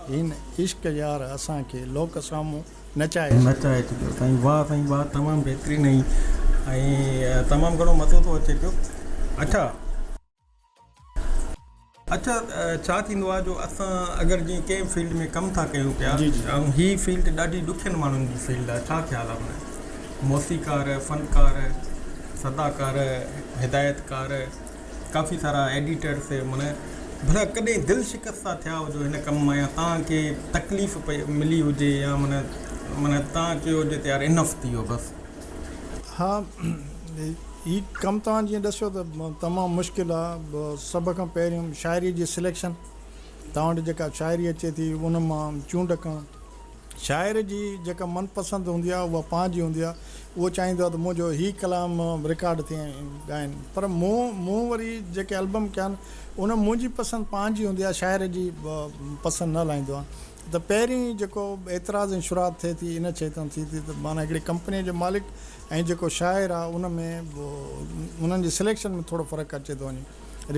هن عشق يار اسان کي لوڪ سامهون نچائي ڇڏيو. نچائي ڇڏيو سائين واه سائين واه تمام بهترين ۽ تمام گهڻو مزو ٿو اچي پيو اڇا. اڇا ڇا ٿيندو آهي جو اسان اگر جي ڪنهن فيلڊ ۾ ڪم ٿا ڪيون پيا ۽ هي فيلڊ ڏاڍي ڏکين ماڻهن جي فيلڊ آهي ڇا خيال آهي ان جو موسيقار فنڪار صداڪار هدايتڪار. ڪافي سارا ايڊيٽر سي من ڀلا ڪڏهن دل شڪست ٿا ٿيا هجو هن ڪم مان يا تان کي تڪليف پئي ملي هجي يا من من تان چيو هجي ته يار انف ٿي ويو بس. ها هي ڪم توهان جيئن ڏسيو ته تمام مشڪل آ سڀ کان پهريون شاعري جي سليڪشن توهان وٽ جيڪا شاعري اچي ٿي ان مان چونڊ ڪرڻ. شاعر جي جيڪا من پسند هوندي آهي اها پنهنجي هوندي آهي اهو چاهيندو آهي ته منهنجو هي ڪلام رڪارڊ ٿئي ۽ ڳائن پر مون مون وري جيڪي البم ڪيا آهن ان ۾ منهنجي پسند پنهنجي هوندي آهي شاعر جي پسند نه هلائيندو آهيان ته پهرين جيڪو اعتراض ۽ شرات ٿئي ٿي ان شيء تان ٿئي ٿي ته معنيٰ هڪڙي ڪمپنيء جو مالڪ ۽ جيڪو شاعر آهي ان ۾ انهن جي سليڪشن ۾ ٿورو فرق اچي ٿو وڃي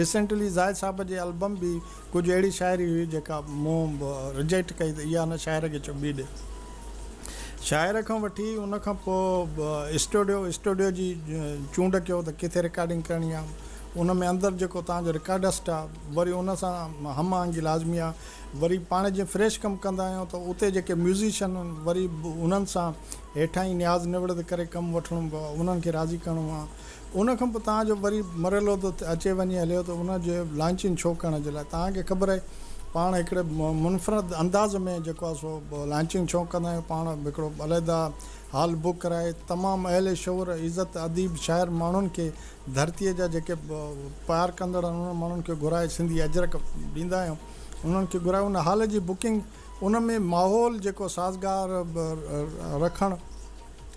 ريسينٽلي زاهد صاحب جي البم به ڪجهه اهڙي شاعري هئي جيڪا مون رجيڪٽ ڪئي ته اها هن شاعر کي چٻي ڏي. شاعر کان وٺي ان کان پوء اسٽوڊيو اسٽوڊيو جي چونڊ ڪيو ته ڪٿي رڪارڊنگ ڪرڻي آهي. ان ۾ اندر جيڪو توهان جو رڪارڊسٽ آهي وري ان سان هم آهنگي لازمي آهي. وري پاڻ جي فريش ڪم ڪندا آهيون ته اتي جيڪي ميوزيشن آهن وري انهن سان هيٺاهين نياز نوڙت ڪري ڪم وٺڻو پوي انهن کي راضي ڪرڻو آهي. ان کان پوء توهان جو وري مرحلو ته اچي وڃي هليو ته ان جي لانچنگ شو ڪرڻ جي لاء توهان کي خبر آهي پاڻ هڪڙي منفرد انداز ۾ جيڪو آهي سو لانچنگ شو ڪندا آهيون پاڻ هڪڙو عليحده هال بوڪ ڪرائي تمام اهل شعور عزت اديب شاعر ماڻهن کي ڌرتي جا جيڪي پيار ڪندڙ آهن انهن ماڻهن کي گهرائي سنڌي اجرڪ ڏيندا آهيون انهن کي گهرائي ان هال جي بوڪنگ ان ۾ ماحول جيڪو سازگار رکڻ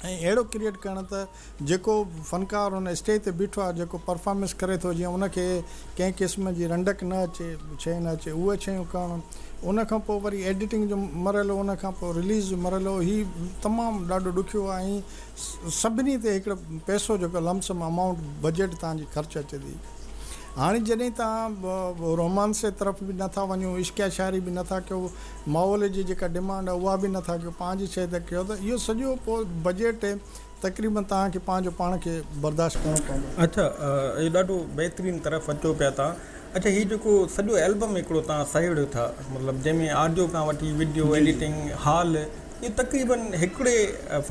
۽ اهڙو ڪريئيٽ ڪرڻ ته جيڪو فنڪار ان اسٽيج تي بيٺو آهي جيڪو پرفارمنس ڪري ٿو جيئن ان کي ڪنهن قسم جي رنڊڪ نه اچي شيء نه اچي اهي شيون ڪرڻ ان کان پوء وري ايڊيٽنگ جو مرحلو ان کان پوء رليز جو مرحلو هي تمام ڏاڍو ڏکيو آهي ۽ سڀني تي هڪڙو پئسو جيڪو لم سم امائونٽ بجيٽ توهان جي خرچ اچي ٿي هاڻي جڏهن توهان رومانسي طرف به نه ٿا وڃو عشقيه شاعري به نه ٿا ڪيو ماحول جي جيڪا ڊمانڊ آهي اها به نه ٿا ڪيو پنهنجي شيء تي ڪيو ته اهو سڄو پوء بجيٽ تقريبن توهان کي پنهنجو پاڻ کي برداشت ڪرڻو پوندو. اچا اهو ڏاڍو بهترين طرف اچو پيا تان اچا هي جيڪو سڄو البم هڪڙو تان سهيڙيو ٿا مطلب جنهن ۾ آڊيو کان وٺي وڊيو ايڊيٽنگ هال اهو تقريبن هڪڙي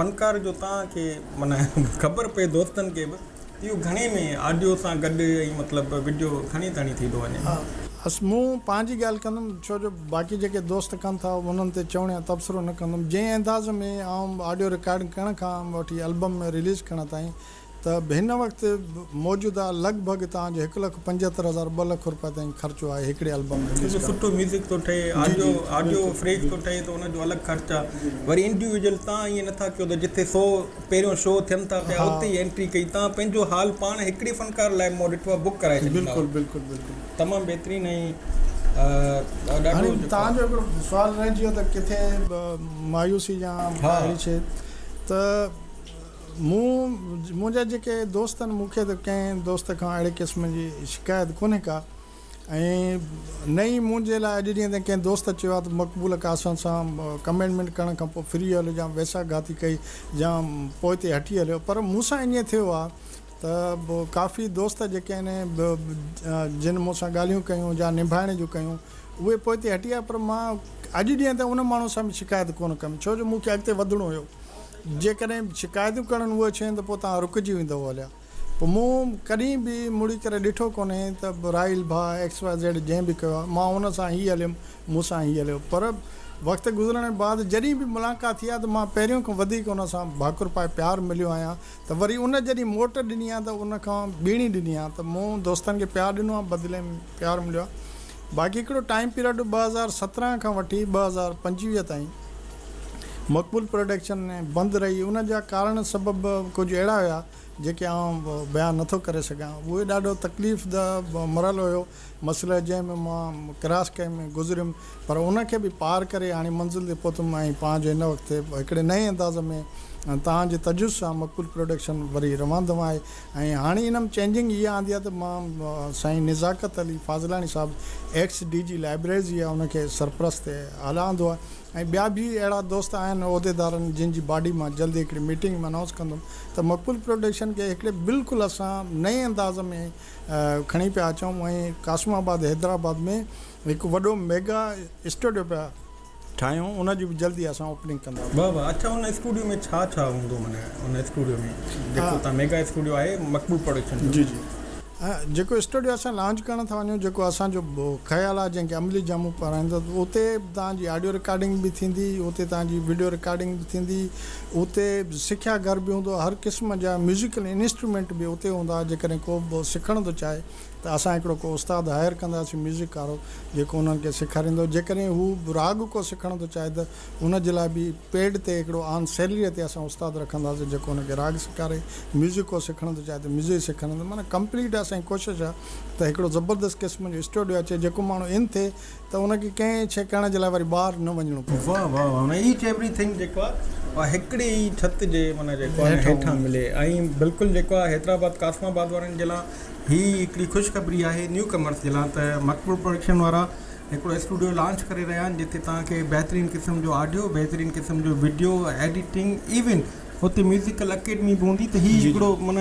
فنڪار جو تان کي معنيٰ خبر پئي دوستن کي به اهو گهڻي ۾ آڊيو سان گڏ ۽ مطلب وڊيو کڻي تڻي ٿي ٿو وڃي. بس مون پنهنجي ڳالهه ڪندم ڇو جو باقي جيڪي دوست ڪن ٿا انهن تي چوڻ يا تبصرو نه ڪندم جنهن انداز ۾ آئون آڊيو رڪارڊنگ ڪرڻ کان وٺي البم ۾ رليز ڪرڻ تائين ته هن وقت موجوده لڳ ڀڳ توهان جو هڪ لک پنجهتر هزار ٻه لک روپيه تائين خرچو آهي هڪڙي البم رليز ڪرڻ سٺو ميوزڪ ٿو ٺهي آڊيو آڊيو فريش ٿو ٺهي ته ان جو الڳ خرچ آهي وري انڊيويجل تان ائين نه ٿا ڪيو ته جتي سو پهريون شو ٿين ٿا پيا اتي ئي انٽري ڪئي تان پنهنجو هال پاڻ هڪڙي فنڪار لاء مون ڏٺو آهي بڪ ڪرائي ڇڏيندا هئا بلڪل بلڪل تمام بهترين ۽ ڏاڍو جيڪو هاڻي تنهنجو هڪڙو سوال رهجي ويو ته ڪٿي مايوسي يا اهڙي شي ته مون منهنجا جيڪي دوست آهن مون کي ته ڪنهن دوست کان اهڙي قسم جي شڪايت ڪونهي ڪا ائين نه ئي منهنجي لاء اڄ جيئن ته ڪنهن دوست چيو آهي ته مقبوله قاسم سان ڪمينٽمينٽ ڪرڻ کان پوء ڦري هليو جا ويساهه گهاتي ڪئي جا پوئتي هٽي هليو پر مون سان ائين ٿيو آهي ته ڪافي دوست جيڪي آهن جن مون سان ڳالهيون ڪيون جا نڀائڻ جون ڪيون اهي پوئتي هٽي آيا پر مان اڄ جيئن ته ان ماڻهو سان به شڪايت ڪونه ڪندم ڇو جو مون کي اڳتي وڌڻو هيو جيڪڏهن شڪايتون ڪرڻ اهي شين ته پوء توهان رڪجي ويندو هليا پوء مون ڪڏهن به مڙي ڪري ڏٺو ڪونهي ته راحيل ڀاء ايڪس واء زيڊ جنهن به ڪيو آهي مان هن سان هي هليم مون سان هي هليو پر وقت گذرڻ بعد جڏهن به ملاقات ٿي آهي ته مان پهريون کان وڌيڪ ان سان ڀاڪر پائي پيار مليو آهيان ته وري ان جڏهن موٽ ڏني آهي ته ان کان ٻيڻي ڏني آهي ته مون دوستن کي پيار ڏنو آهي بدلي ۾ پيار مليو آهي باقي هڪڙو ٽائيم پيرڊ ٻه هزار سترهن کان وٺي ٻه هزار پنجويهه تائين مقبول پروڊڪشن بند رهي ان جا ڪارڻ سبب ڪجهه اهڙا هيا جيڪي آئون بيان نه ٿو ڪري سگهان. اهو ڏاڍو تڪليف ده مرحلو هيو، مسئله جنهن ۾ مان ڪراس ڪئي ۾ گذريم پر ان کي به پار ڪري هاڻي منزل تي پهتم ۽ پان جو هن وقت هڪڙي نئين انداز ۾ توهان جي تجويز سان مقبول پروڊڪشن وري روان دوان آهي ۽ هاڻي ان ۾ چينجنگ اها آندي آهي ته مان سائين نزاڪت علي فاضلاڻي صاحب ايڪس ڊي جي لائبريريز جي ان کي سرپرست اعليٰ آندو آهي. ۽ ٻيا به اهڙا دوست آهن عهديدارن جن جي باڊي مان جلدي هڪڙي ميٽنگ ۾ انائونس ڪندم ته مقبول پروڊڪشن کي هڪڙي بلڪل اسان نئين انداز ۾ کڻي پيا اچون ۽ قاسم آباد حيدرآباد ۾ هڪ وڏو ميگا اسٽوڊيو پيا ٺاهيون ان جي به جلدي اسان اوپننگ ڪنداسين. واھ واھ اڇا ان اسٽوڊيو ۾ ڇا ڇا هوندو معنيٰ ان اسٽوڊيو ۾ جيڪو تان ميگا اسٽوڊيو آهي مقبول پروڊڪشن جو. جي جي. جيڪو اسٽوڊيو اسان لانچ ڪرڻ ٿا وڃون جيڪو اسان جو خيال آهي جنهن کي عملي جامو پهرائيندو ته اتي به توهان جي آڊيو رڪارڊنگ به ٿيندي اتي توهان جي وڊيو رڪارڊنگ به ٿيندي اتي سکيا گهر به هوندو هر قسم جا ميوزيڪل انسٽرومينٽ به اتي هوندا جيڪڏهن ڪو به سکڻ ٿو چاهي ته اسان هڪڙو ڪو استاد هائير ڪنداسين ميوزڪ وارو جيڪو انهن کي سيکاريندو جيڪڏهن هو راڳ ڪو سکڻ ٿو چاهي ته ان جي لاء به پيڊ تي هڪڙو آن سيلريء تي اسان استاد رکنداسين جيڪو ان کي راڳ سيکاري، ميوزڪ ڪو سکڻ ٿو چاهي ته ميوزڪ سيکارينداسين معنيٰ ڪمپليٽ اسان جي ڪوشش آهي ته هڪڙو زبردست قسم جو اسٽوڊيو اچي جيڪو ماڻهو ان ٿئي ته ان کي ڪنهن شيء ڪرڻ جي لاء وري ٻاهر نه وڃڻو پوي. واه واه واه معنيٰ ايچ ايوري ٿنگ جيڪو آهي اها هڪڙي ئي ڇت جي معنيٰ جيڪو آهي هيٺان ملي ۽ بلڪل جيڪو آهي حيدرآباد قاسم آباد وارن جي لاء هي هڪڙي خوشخبري آهي نيو ڪمرس جي لاء ته مقبول پروڊڪشن وارا هڪڙو اسٽوڊيو لانچ ڪري رهيا آهن جتي توهان کي بهترين قسم جو آڊيو بهترين قسم جو وڊيو ايڊيٽنگ ايون اتي ميوزڪل اڪيڊمي به هوندي ته هي هڪڙو من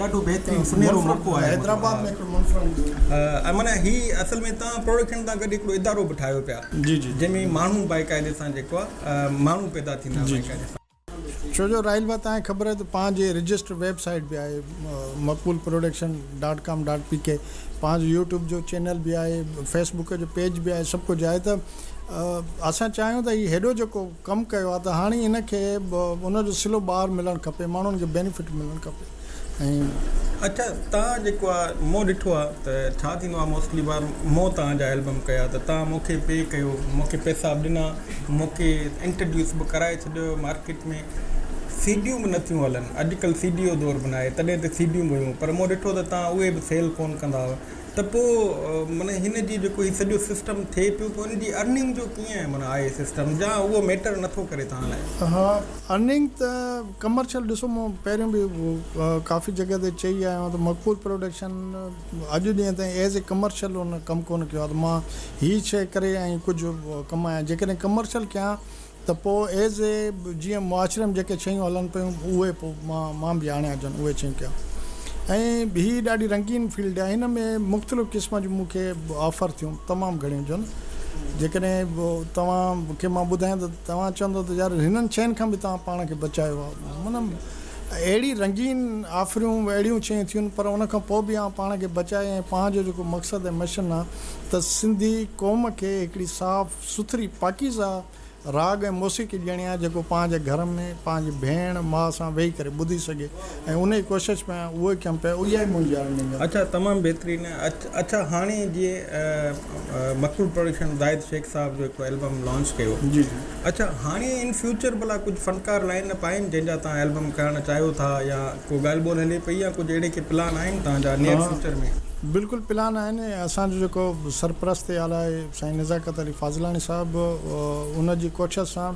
ڏاڍو بهترين سنهرو موقعو آهي حيدرآباد ۾ هڪڙو منفرد ۽ من هي اصل ۾ توهان پروڊڪشن سان گڏ هڪڙو ادارو به ٺاهيو پيا جنهن ۾ ماڻهو باقاعدي سان جيڪو آهي ماڻهو پيدا ٿيندا باقاعدي سان ڇو جو رائل بات آهي خبر ته پان جي رجسٽر ويب سائيٽ به آهي Maqbool production dot com dot P K پان جو يوٽيوب جو چينل به آهي فيس بڪ جو پيج به آهي سڀ ڪجهه آهي ته اسان چاهيون ته هي هيڏو جيڪو ڪم ڪيو آهي ته هاڻي ان کي ان جو صلو بار ملڻ کپي ماڻهن کي بينيفٽ ملڻ کپي اڇا تان جيڪو آ مون ڏٺو آ ته ڇا ٿيندو آ موسٽلي بار مون تان جا البم ڪيا ته تان مون کي پي ڪيو مون کي پيسا به ڏنا مون کي انٽرڊيوس به ڪرائي ڇڏيو مارڪيٽ ۾ سي ڊيون به نٿيون هلن اڄ ڪل سي ڊي جو دور به ناهي تڏهن ته سي ڊيون به هيون پر مون ڏٺو ته تان اهي به سيل ڪون ڪندا هئا ته پو معنيٰ هن جي جيڪو هي سڄو سسٽم ٿي پيو پو ان جي ارننگ جو ڪيئن معنيٰ آهي سسٽم جا اهو ميٽر نٿو ڪري تان لاء؟ ها ارننگ ته ڪمرشل ڏسو مون پهريون به ڪافي جڳهه تي چئي آيو آهيان ته مقبول پروڊڪشن اڄ ڏينهن تائين ايز اي ڪمرشل ان ڪم ڪونه ڪيو آهي ته مان هي شيء ڪري ۽ ڪجهه ڪمايان جيڪڏهن ڪمرشل ڪيان ته پوء ايز اي جيئن معاشري ۾ جيڪي شيون هلن پيون اهي پوء مان به هاڻي اچن اهي شيون ڪيان ۽ هي ڏاڍي رنگين فيلڊ آهي هن ۾ مختلف قسم جون مون کي آفر ٿيون تمام گهڻيون جون جيڪڏهن توهان کي مان ٻڌايان ته توهان چوندو ته يار هنن شين کان به توهان پاڻ کي بچايو آ من اهڙي رنگين آفريون اهڙيون شين ٿيون پر ان کان پوء به اوهان پاڻ کي بچائي ۽ پاڻ جو جيڪو مقصد ۽ مشن آ ته سنڌي قوم کي هڪڙي صاف سٿري پاڪيزه راڳ ۽ موسيقي ڏيڻي آ جيڪو پاڻ جي گهر ۾ پاڻ جي ڀيڻ ماء سان ويهي ڪري ٻڌي سگهي ۽ انهي ڪوشش ۾ آهيان اهو ئي ڪم پيو اهي ئي منهنجي ارننگ آهن. اڇا تمام بهترين اڇا هاڻي جي مقبول پروڊڪشن زاهد شيخ صاحب جو هڪ البم لانچ ڪيو جي جي اڇا هاڻي ان فيوچر ڀلا ڪجهه فنڪار لائن اپ آهن جن جا توهان البم ڪرڻ چاهيو ٿا يا ڪو ڳالهه ٻولهه هلي پئي يا ڪجهه اهڙي ڪي پلان آهن توهان جا نيئر فيوچر ۾. بلڪل پلان آهن اسان جو جيڪو سرپرست اعليٰ سائين نزاڪت علي فاضلاڻي صاحب ان جي ڪوشش سان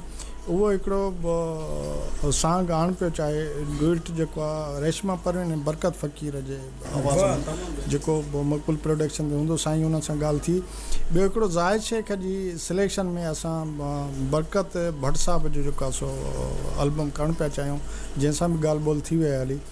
اهو هڪڙو سانگ آڻ پيو چاهي ڊوئٽ جيڪو آ ريشما پروين ۽ برڪت فقير جي آواز ۾ جيڪو مقبول پروڊڪشن تي هوندو سائين انهن سان ڳالهه ٿي ٻيو هڪڙو زاهد شيخ جي سليڪشن ۾ اسان برڪت ڀٽ صاحب جو جيڪو آ سو البم ڪرڻ پيا چاهيون جنهن سان به ڳالهه ٻولهه ٿي ويئي هلي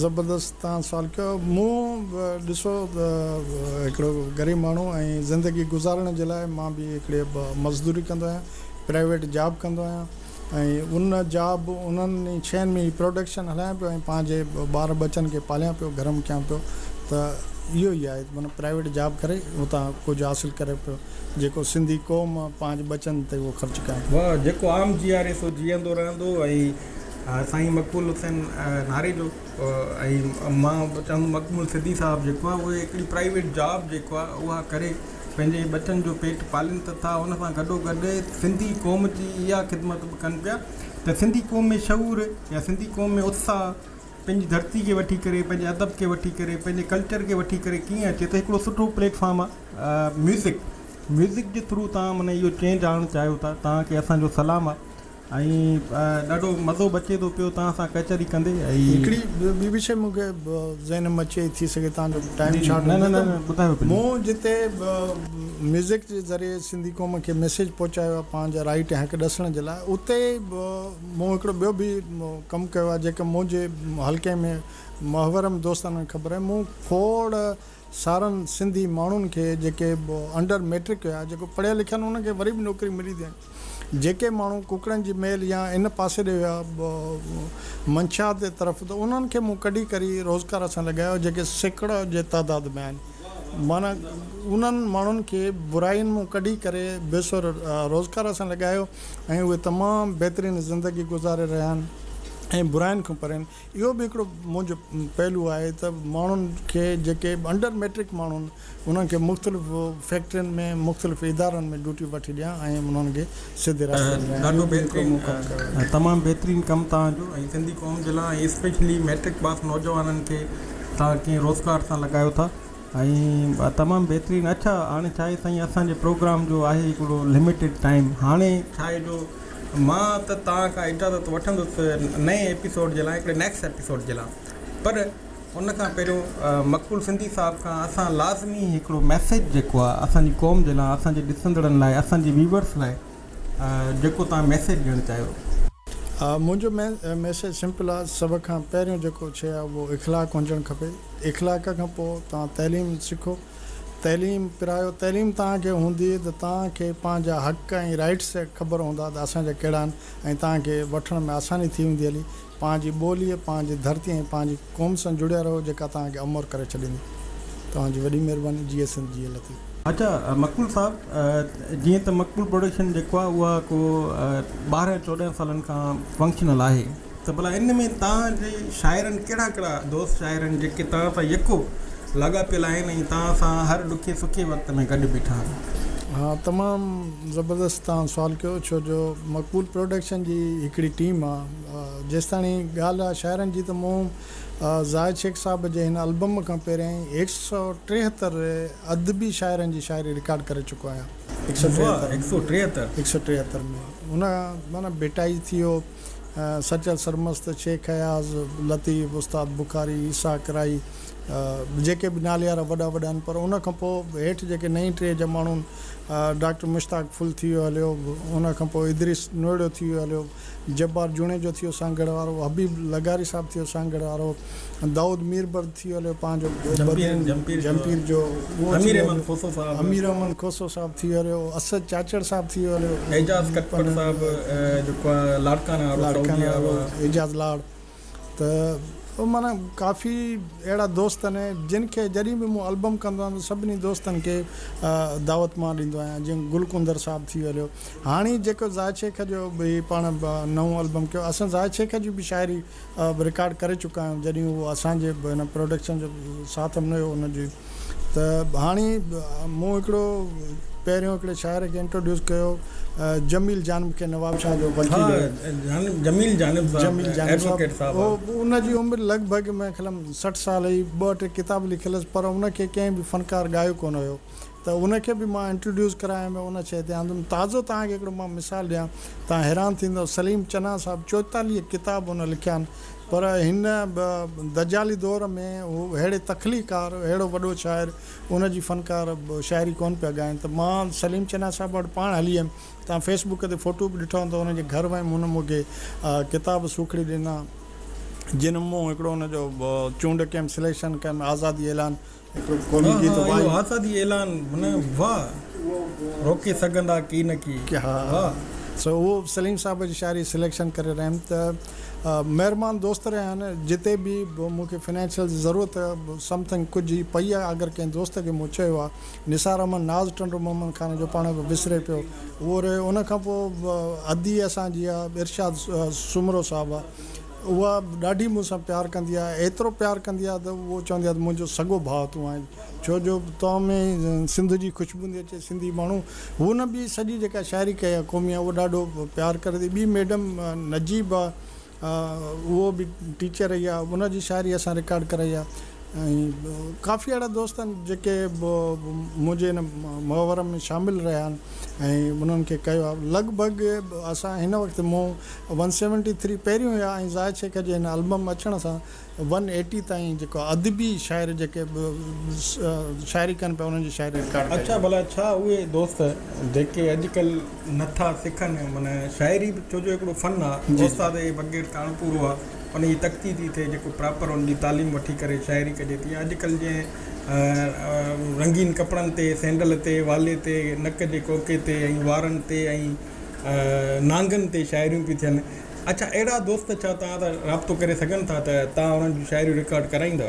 زبردست تهان سوال ڪيو مون ڏسو هڪڙو غريب ماڻهو ۽ زندگي گذارڻ جي لاء مان به هڪڙي مزدوري ڪندو آهيان پرائيويٽ جاب ڪندو آهيان ۽ ان جاب انهن ئي شين ۾ پروڊڪشن هلايان پيو ۽ پنهنجي ٻار ٻچن کي پاليان پيو گرم ڪيان پيو ته اهو ئي آهي معنيٰ پرائيويٽ جاب ڪري اتان ڪجهه حاصل ڪري پيو جيڪو سنڌي قوم پنهنجي ٻچن تي اهو خرچ ڪيان ٿو. واهه جيڪو عام جياري سو جيئندو رهندو ۽ سائين مقبول حسين ناريجو ۽ مان به چوندم مقبول سڌي صاحب جيڪو آهي اهي هڪڙي پرائيويٽ جاب جيڪو آهي اها ڪري پنهنجي ٻچن جو پيٽ پالين ته ٿا ان سان گڏو گڏ سنڌي قوم جي اها خدمت به ڪن پيا ته سنڌي قوم ۾ شعور يا سنڌي قوم ۾ اتساهه پنهنجي ڌرتي کي وٺي ڪري پنهنجي ادب کي وٺي ڪري پنهنجي ڪلچر کي وٺي ڪري ڪيئن اچي ته هڪڙو سٺو پليٽ فارم آهي ميوزڪ ميوزڪ جي ٿرو تان معنيٰ اهو چينج آڻڻ چاهيو ٿا تان کي اسان جو سلام آهي ۽ ڏاڍو مزو به اچي ٿو پيو توهان سان ڪچهري ڪندي ۽. هڪڙي ٻي به شيء مون کي ذهن ۾ اچي ٿي سگهي توهان جو ٽائيم شارٽ هجي ته مون جتي ميوزڪ جي ذريعي سنڌي قوم کي ميسيج پهچايو آهي پنهنجا رائيٽ ۽ حق ڏسڻ جي لاء اتي مون هڪڙو ٻيو به ڪم ڪيو آهي جيڪو منهنجي حلقي ۾ محورم دوستانن کي خبر آهي مون کوڙ سارن سنڌي ماڻهن کي جيڪي انڊر ميٽرڪ هيا جيڪو پڙهيل لکيل آهن انهن کي وري به نوڪري ملي ٿي هاڻي جيڪي ماڻهو ڪڪڙن جي ميل يا ان پاسي ڏي هيا منشيات جي طرف ته انهن کي مون ڪڍي ڪري روزگار سان لڳايو جيڪي سيڪڙو جي تعداد ۾ آهن معنيٰ انهن ماڻهن کي براين مون ڪڍي ڪري بي سر روزگار سان لڳايو ۽ اهي تمام بهترين زندگي گذاري رهيا آهن ۽ براين کان پرين اهو به هڪڙو منهنجو پهلو آهي ته ماڻهن کي جيڪي انڊر مئٽرڪ ماڻهو آهن انهن کي مختلف فيڪٽرين ۾ مختلف ادارن ۾ ڊيوٽي وٺي ڏيان ۽ انهن کي سڌي رستي تي آڻيان اهو به هڪڙو موقعو آهي. تمام بهترين ڪم توهان جو ۽ سنڌي قوم جي لاء ۽ اسپيشلي مئٽرڪ پاس نوجوانن کي توهان ڪنهن روزگار سان لڳايو ٿا. ۽ تمام بهترين اڇا هاڻي ڇاهي سائين اسان جي پروگرام جو آهي هڪڙو لمٽيڊ ٽائيم هاڻي ڇاهي جو مان ته توهان کان اجازت وٺندس نئين ايپيسوڊ جي لاء هڪڙي نيڪس ايپيسوڊ جي لاء پر ان کان پهريون مقبول سنڌي صاحب کان اسان لازمي هڪڙو ميسج جيڪو آهي اسان جي قوم جي لاء اسان جي ڏسندڙن لاء اسان جي ويورس لاء جيڪو توهان ميسيج ڏيڻ چاهيو. منهنجو ميسيج سمپل آ سڀ کان پهريون جيڪو شئي آ اهو اخلاق هجڻ کپي اخلاق کان پوء توهان تعليم سکو تعليم پرايو تعليم توهان کي هوندي ته توهان کي پنهنجا حق ۽ رائيٽس خبر هوندا ته اسان جا ڪهڙا آهن ۽ توهان کي وٺڻ ۾ آساني ٿي ويندي علي پنهنجي ٻوليء، پنهنجي ڌرتيء ۽ پنهنجي قوم سان جڙيا رهو جيڪا توهان کي امور ڪري ڇڏيندي. توهان جي وڏي مهرباني. جيئي سنڌ جيئي لطيف. اچا مقبول صاحب جيئن ته مقبول پروڊڪشن جيڪو آهي اها ڪو ٻارهن چوڏهن سالن کان فنڪشنل آهي ته ڀلا ان ۾ توهان جي شاعرن ڪهڙا ڪهڙا دوست شاعر آهن جيڪي توهان سان يڪو لاڳاپيل آهن ۽ توهان سان هر ڏکي سکي وقت ۾ گڏ بيٺا آهن. ها تمام زبردست توهان سوال ڪيو ڇو جو مقبول پروڊڪشن جي هڪڙي ٽيم آهي. جيستاڻي ڳالهه آهي شاعرن جي ته مون زاهد شيخ صاحب جي هن البم کان پهريائين هڪ سؤ ٽيهتر ادبي شاعرن جي شاعري رڪارڊ ڪري چڪو آهيان هڪ سؤ ٽيهتر هڪ سؤ ٽيهتر هڪ سؤ ٽيهتر ۾ هن معنيٰ ڀٽائي ٿي ويو سچل سرمست شيخ اياز لطيف استاد بخاري عيسيٰ ڪرائي جيڪي به ناليارا وڏا وڏا آهن پر ان کان پوء هيٺ جيڪي نئين ٽهي جا ماڻهو آهن ڊاڪٽر مشتاق ڦل ٿي ويو هليو ان کان پوء ادريس نوئڙو ٿي ويو هليو جبار جوڻيجو ٿيو سانگهڙ وارو، حبيب لغاري صاحب ٿيو سانگهڙ وارو، دائود ميربرد ٿيو هليو پنهنجو بدين جهمپير جو، اهو ٿيو هليو، امير احمد کوسو صاحب ٿيو هليو، اسد چاچڙ صاحب ٿيو هليو، اعجاز ڪٽپٽ صاحب جيڪو آهي لاڙڪانا وارو، اعجاز لاڙ، ته معنيٰ ڪافي اهڙا دوست آهن جن کي جڏهن به مون البم ڪندو آهيان ته سڀني دوستن کي دعوت مان ڏيندو آهيان جيئن گل ڪنڌر صاحب ٿي هليو هاڻي جيڪو زاهد شيخ جو به پاڻ نئون البم ڪيو اسان زاهد شيخ جي به شاعري رڪارڊ ڪري چڪا آهيون جڏهن هو اسان جي هن پروڊڪشن جو ساٿ نه هيو ان جي ته هاڻي مون هڪڙو پهريون هڪڙي شاعر کي انٽروڊيوس ڪيو جميل جانب کي نوابشاهه جو وڪيل هو جميل جانب صاحب ان جي عمر لڳ ڀڳ مين خيلم سٺ سال هئي ٻه ٽي ڪتاب لکيلس پر ان کي ڪنهن به فنڪار ڳايو ڪونه هيو ته ان کي به مان انٽروڊيوس ڪرايم ۽ ان شيء تي آندم تازو توهان کي هڪڙو مان مثال ڏيان توهان حيران ٿيندؤ سليم چنا صاحب چوئيتاليهه ڪتاب ان لکيا آهن پر هن دجالي دور ۾ هو اهڙي تخليقڪار، اهڙو وڏو شاعر، ان جي فنڪار شاعري ڪونه پيا ڳائين ته مان سليم چنا صاحب وٽ پاڻ هلي ويم. توهان فيس بڪ تي فوٽو به ڏٺا هوندا. ان جي گهر ويم، هن مون کي ڪتاب سوکڙي ڏنا، جن مان هڪڙو هن جو چونڊ ڪيم، سليڪشن ڪيم، آزادي اعلان، اهو حسدي اعلان هن واء روڪي سگهندا ڪي نه ڪي واء. سو اهو سليم صاحب جي شاعري سليڪشن ڪري رهيم ته مهربان دوست رهيا آهن جتي به مون کي فنانشل جي ضرورت سم ٿنگ ڪجهه ئي پئي آهي اگر ڪنهن دوست کي مون چيو آهي نثار احمد ناز ٽنڊو محمد خان جو پاڻ به وسري پيو اهو رهيو ان کان پوء ادي اسان جي آهي ارشاد سومرو صاحب اها ڏاڍي مون سان پيار ڪندي آهي، ايترو پيار ڪندي آهي ته اهو چوندي آهي ته منهنجو سڳو ڀاء تون آهين، ڇو جو تو ۾ سنڌ جي خوشبوندي اچي، سنڌي ماڻهو هن به سڄي جيڪا شاعري ڪئي آهي قومي اهو ڏاڍو پيار ڪري ٿي، ٻي ميڊم نجيب آهي اهو به ٽيچر رهي آهي ان جي شاعري اسان رڪارڊ ڪرائي آهي ۽ ڪافي اهڙا دوست آهن جيڪي منهنجي ان محور ۾ شامل رهيا آهن ۽ انهن کي ڪيو آهي لڳ ڀڳ اسان هن وقت مون ون سيونٽي ٿري پهريون هيا ۽ زاهد شيخ جي هن البم اچڻ سان ون ايٽي تائين جيڪو ادبي شاعر جيڪي شاعري ڪن پيا انهن جي شاعري رڪارڊ ڪئي اڇا ڀلا ڇا اهي دوست جيڪي اڄڪل نه ٿا سکن معنيٰ شاعري به ڇو جو هڪڙو فن آ استاد جي بغير ته اڻ پورو آ ان جي تڪتي ٿي ٿئي جيڪو پراپر ان جي تعليم وٺي ڪري شاعري ڪجي ٿي يا اڄڪل جنهن رنگين ڪپڙن تي سينڊل تي والي تي نڪ جي ڪوڪي تي ۽ وارن تي ۽ نانگن تي شاعريون پيون ٿين اڇا اهڙا دوست ڇا توهان سان رابطو ڪري سگهن ٿا ته توهان انهن جون شاعريون رڪارڊ ڪرائيندا.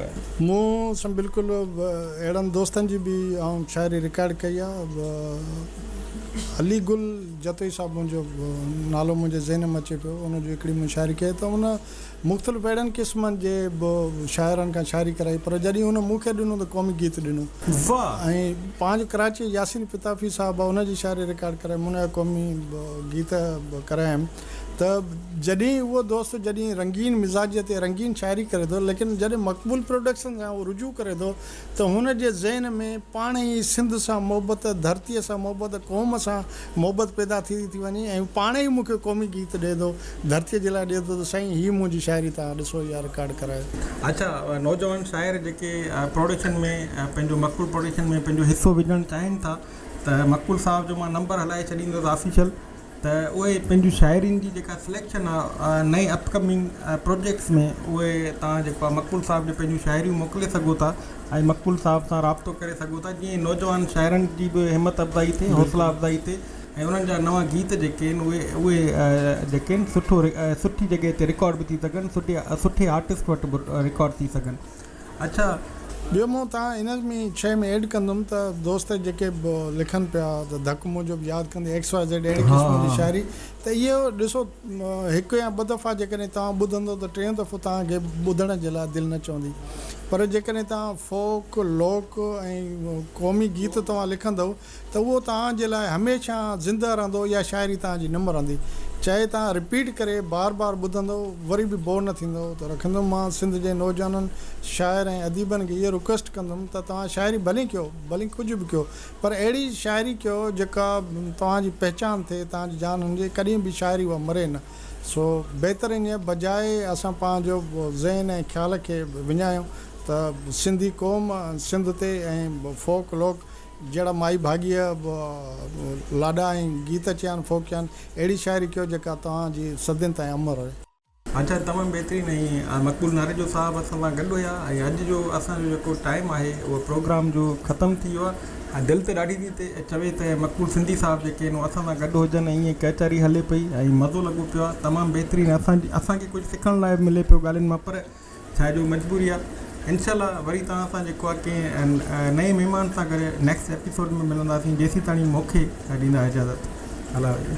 مون سان بلڪل اهڙن دوستن جي به آئون شاعري رڪارڊ ڪئي آ علي گل جتوئي صاحب منهنجو نالو منهنجي ذهن ۾ اچي پيو ان جي هڪڙي مون شاعري ڪئي ته ان مختلف اهڙن قسمن جي به شاعرن کان شاعري ڪرائي پر جڏهن هن مون کي ڏنو ته قومي گيت ڏنو ۽ پنهنجو ڪراچيء ياسين پتافي صاحب آهي ان جي شاعري رڪارڊ ڪرائي مون جا قومي گيت به ڪرايم ته جڏهن اهو دوست جڏهن رنگين مزاجيء تي رنگين شاعري ڪري ٿو ليڪن جڏهن مقبول پروڊڪشن سان اهو رجوع ڪري ٿو ته هن جي ذهن ۾ پاڻ ئي سنڌ سان محبت، ڌرتيء سان محبت، قوم سان محبت پيدا ٿيندي ٿي وڃي ۽ هو پاڻ ئي مون کي قومي گيت ڏئي ٿو، ڌرتيء جي لاء ڏئي ٿو ته سائين هي منهنجي شاعري توهان ڏسو يا رڪارڊ ڪرايو. اچا نوجوان شاعر جيڪي پروڊڪشن ۾ پنهنجو مقبول پروڊڪشن ۾ پنهنجو حصو وجهڻ چاهين ٿا ته مقبول صاحب جو مان نمبر هلائي ڇڏيندس آفيشل. ته اهي پنهنجي شاعرين جي جيڪا سليڪشن آهي نئين اپ ڪمنگ پروجيڪٽس ۾ اهي توهان جيڪو آهي مقبول صاحب ڏي پنهنجون شاعريون موڪلي سگهو ٿا ۽ مقبول صاحب سان رابطو ڪري سگهو ٿا جيئن نوجوان شاعرن جي به همت افزائي ٿئي حوصلا افزائي ٿئي ۽ انهن جا نوان گيت جيڪي آهن اهي اهي جيڪي آهن سٺو سٺي جڳهه تي رڪارڊ به ٿي سگهن سٺي سٺي آرٽسٽ وٽ به رڪارڊ ٿي سگهن اچا ٻيو مون تان ان ۾ شئي ۾ ايڊ ڪندم ته دوست جيڪي به لکن پيا ته ڌڪ موجب ياد ڪندي ايڪس واء زيڊ اهڙي قسم جي شاعري ته اهي ڏسو هڪ يا ٻه دفعا جيڪڏهن توهان ٻڌندو ته ٽيون دفعو توهان کي ٻڌڻ جي لاء دل نه چوندي پر جيڪڏهن توهان فوڪ لوڪ ۽ قومي گيت توهان لکندو ته اهو توهان جي لاء هميشه زنده رهندو اها شاعري توهان جي نه مرندي چاهي توهان رپيٽ ڪري بار بار ٻڌندو وري به بور نه ٿيندو ته رکندم مان سنڌ جي نوجوانن شاعر ۽ اديبن کي اهو رڪويسٽ ڪندم ته توهان شاعري ڀلي ڪيو ڀلي ڪجهه به ڪيو پر اهڙي شاعري ڪيو جيڪا توهان جي پهچان ٿئي توهان جي جان هڻجي ڪڏهن به شاعري اها مري نه سو بهتر انهيء بجاء اسان پنهنجو ذهن ۽ خيال کي وڃايون ته سنڌي قوم سنڌ تي ۽ فوڪ لوڪ جهڙا مائي ڀاڳيء به لاڏا ۽ گيت چيان ڦوڪيان، اهڙي شاعري ڪيو جيڪا توهان جي صدين تائين امر رهي. اچا تمام بهترين ۽ مقبول ناريجو صاحب اسان سان گڏ هيا ۽ اڄ جو اسان جو جيڪو ٽائيم آهي اهو پروگرام جو ختم ٿي ويو آهي دل تي ڏاڍي ٿي تي چوي ته مقبول سنڌي صاحب جيڪي آهن اهو اسان سان گڏ هجن ۽ ائين ڪئچاري هلي پئي ۽ مزو لڳو پيو آهي تمام بهترين اسان جي اسان کي ڪجهه سکڻ لاء به ملي پيو ڳالهين مان پر ڇا جو مجبوري آ انشاء الله وري توهان سان جيڪو آ ڪنهن نئين مهمان سان گڏ نيڪسٽ ايپيسوڊ ۾ ملنداسين جيسين تاڻي موکي ڏيندا اجازت الله حافظ.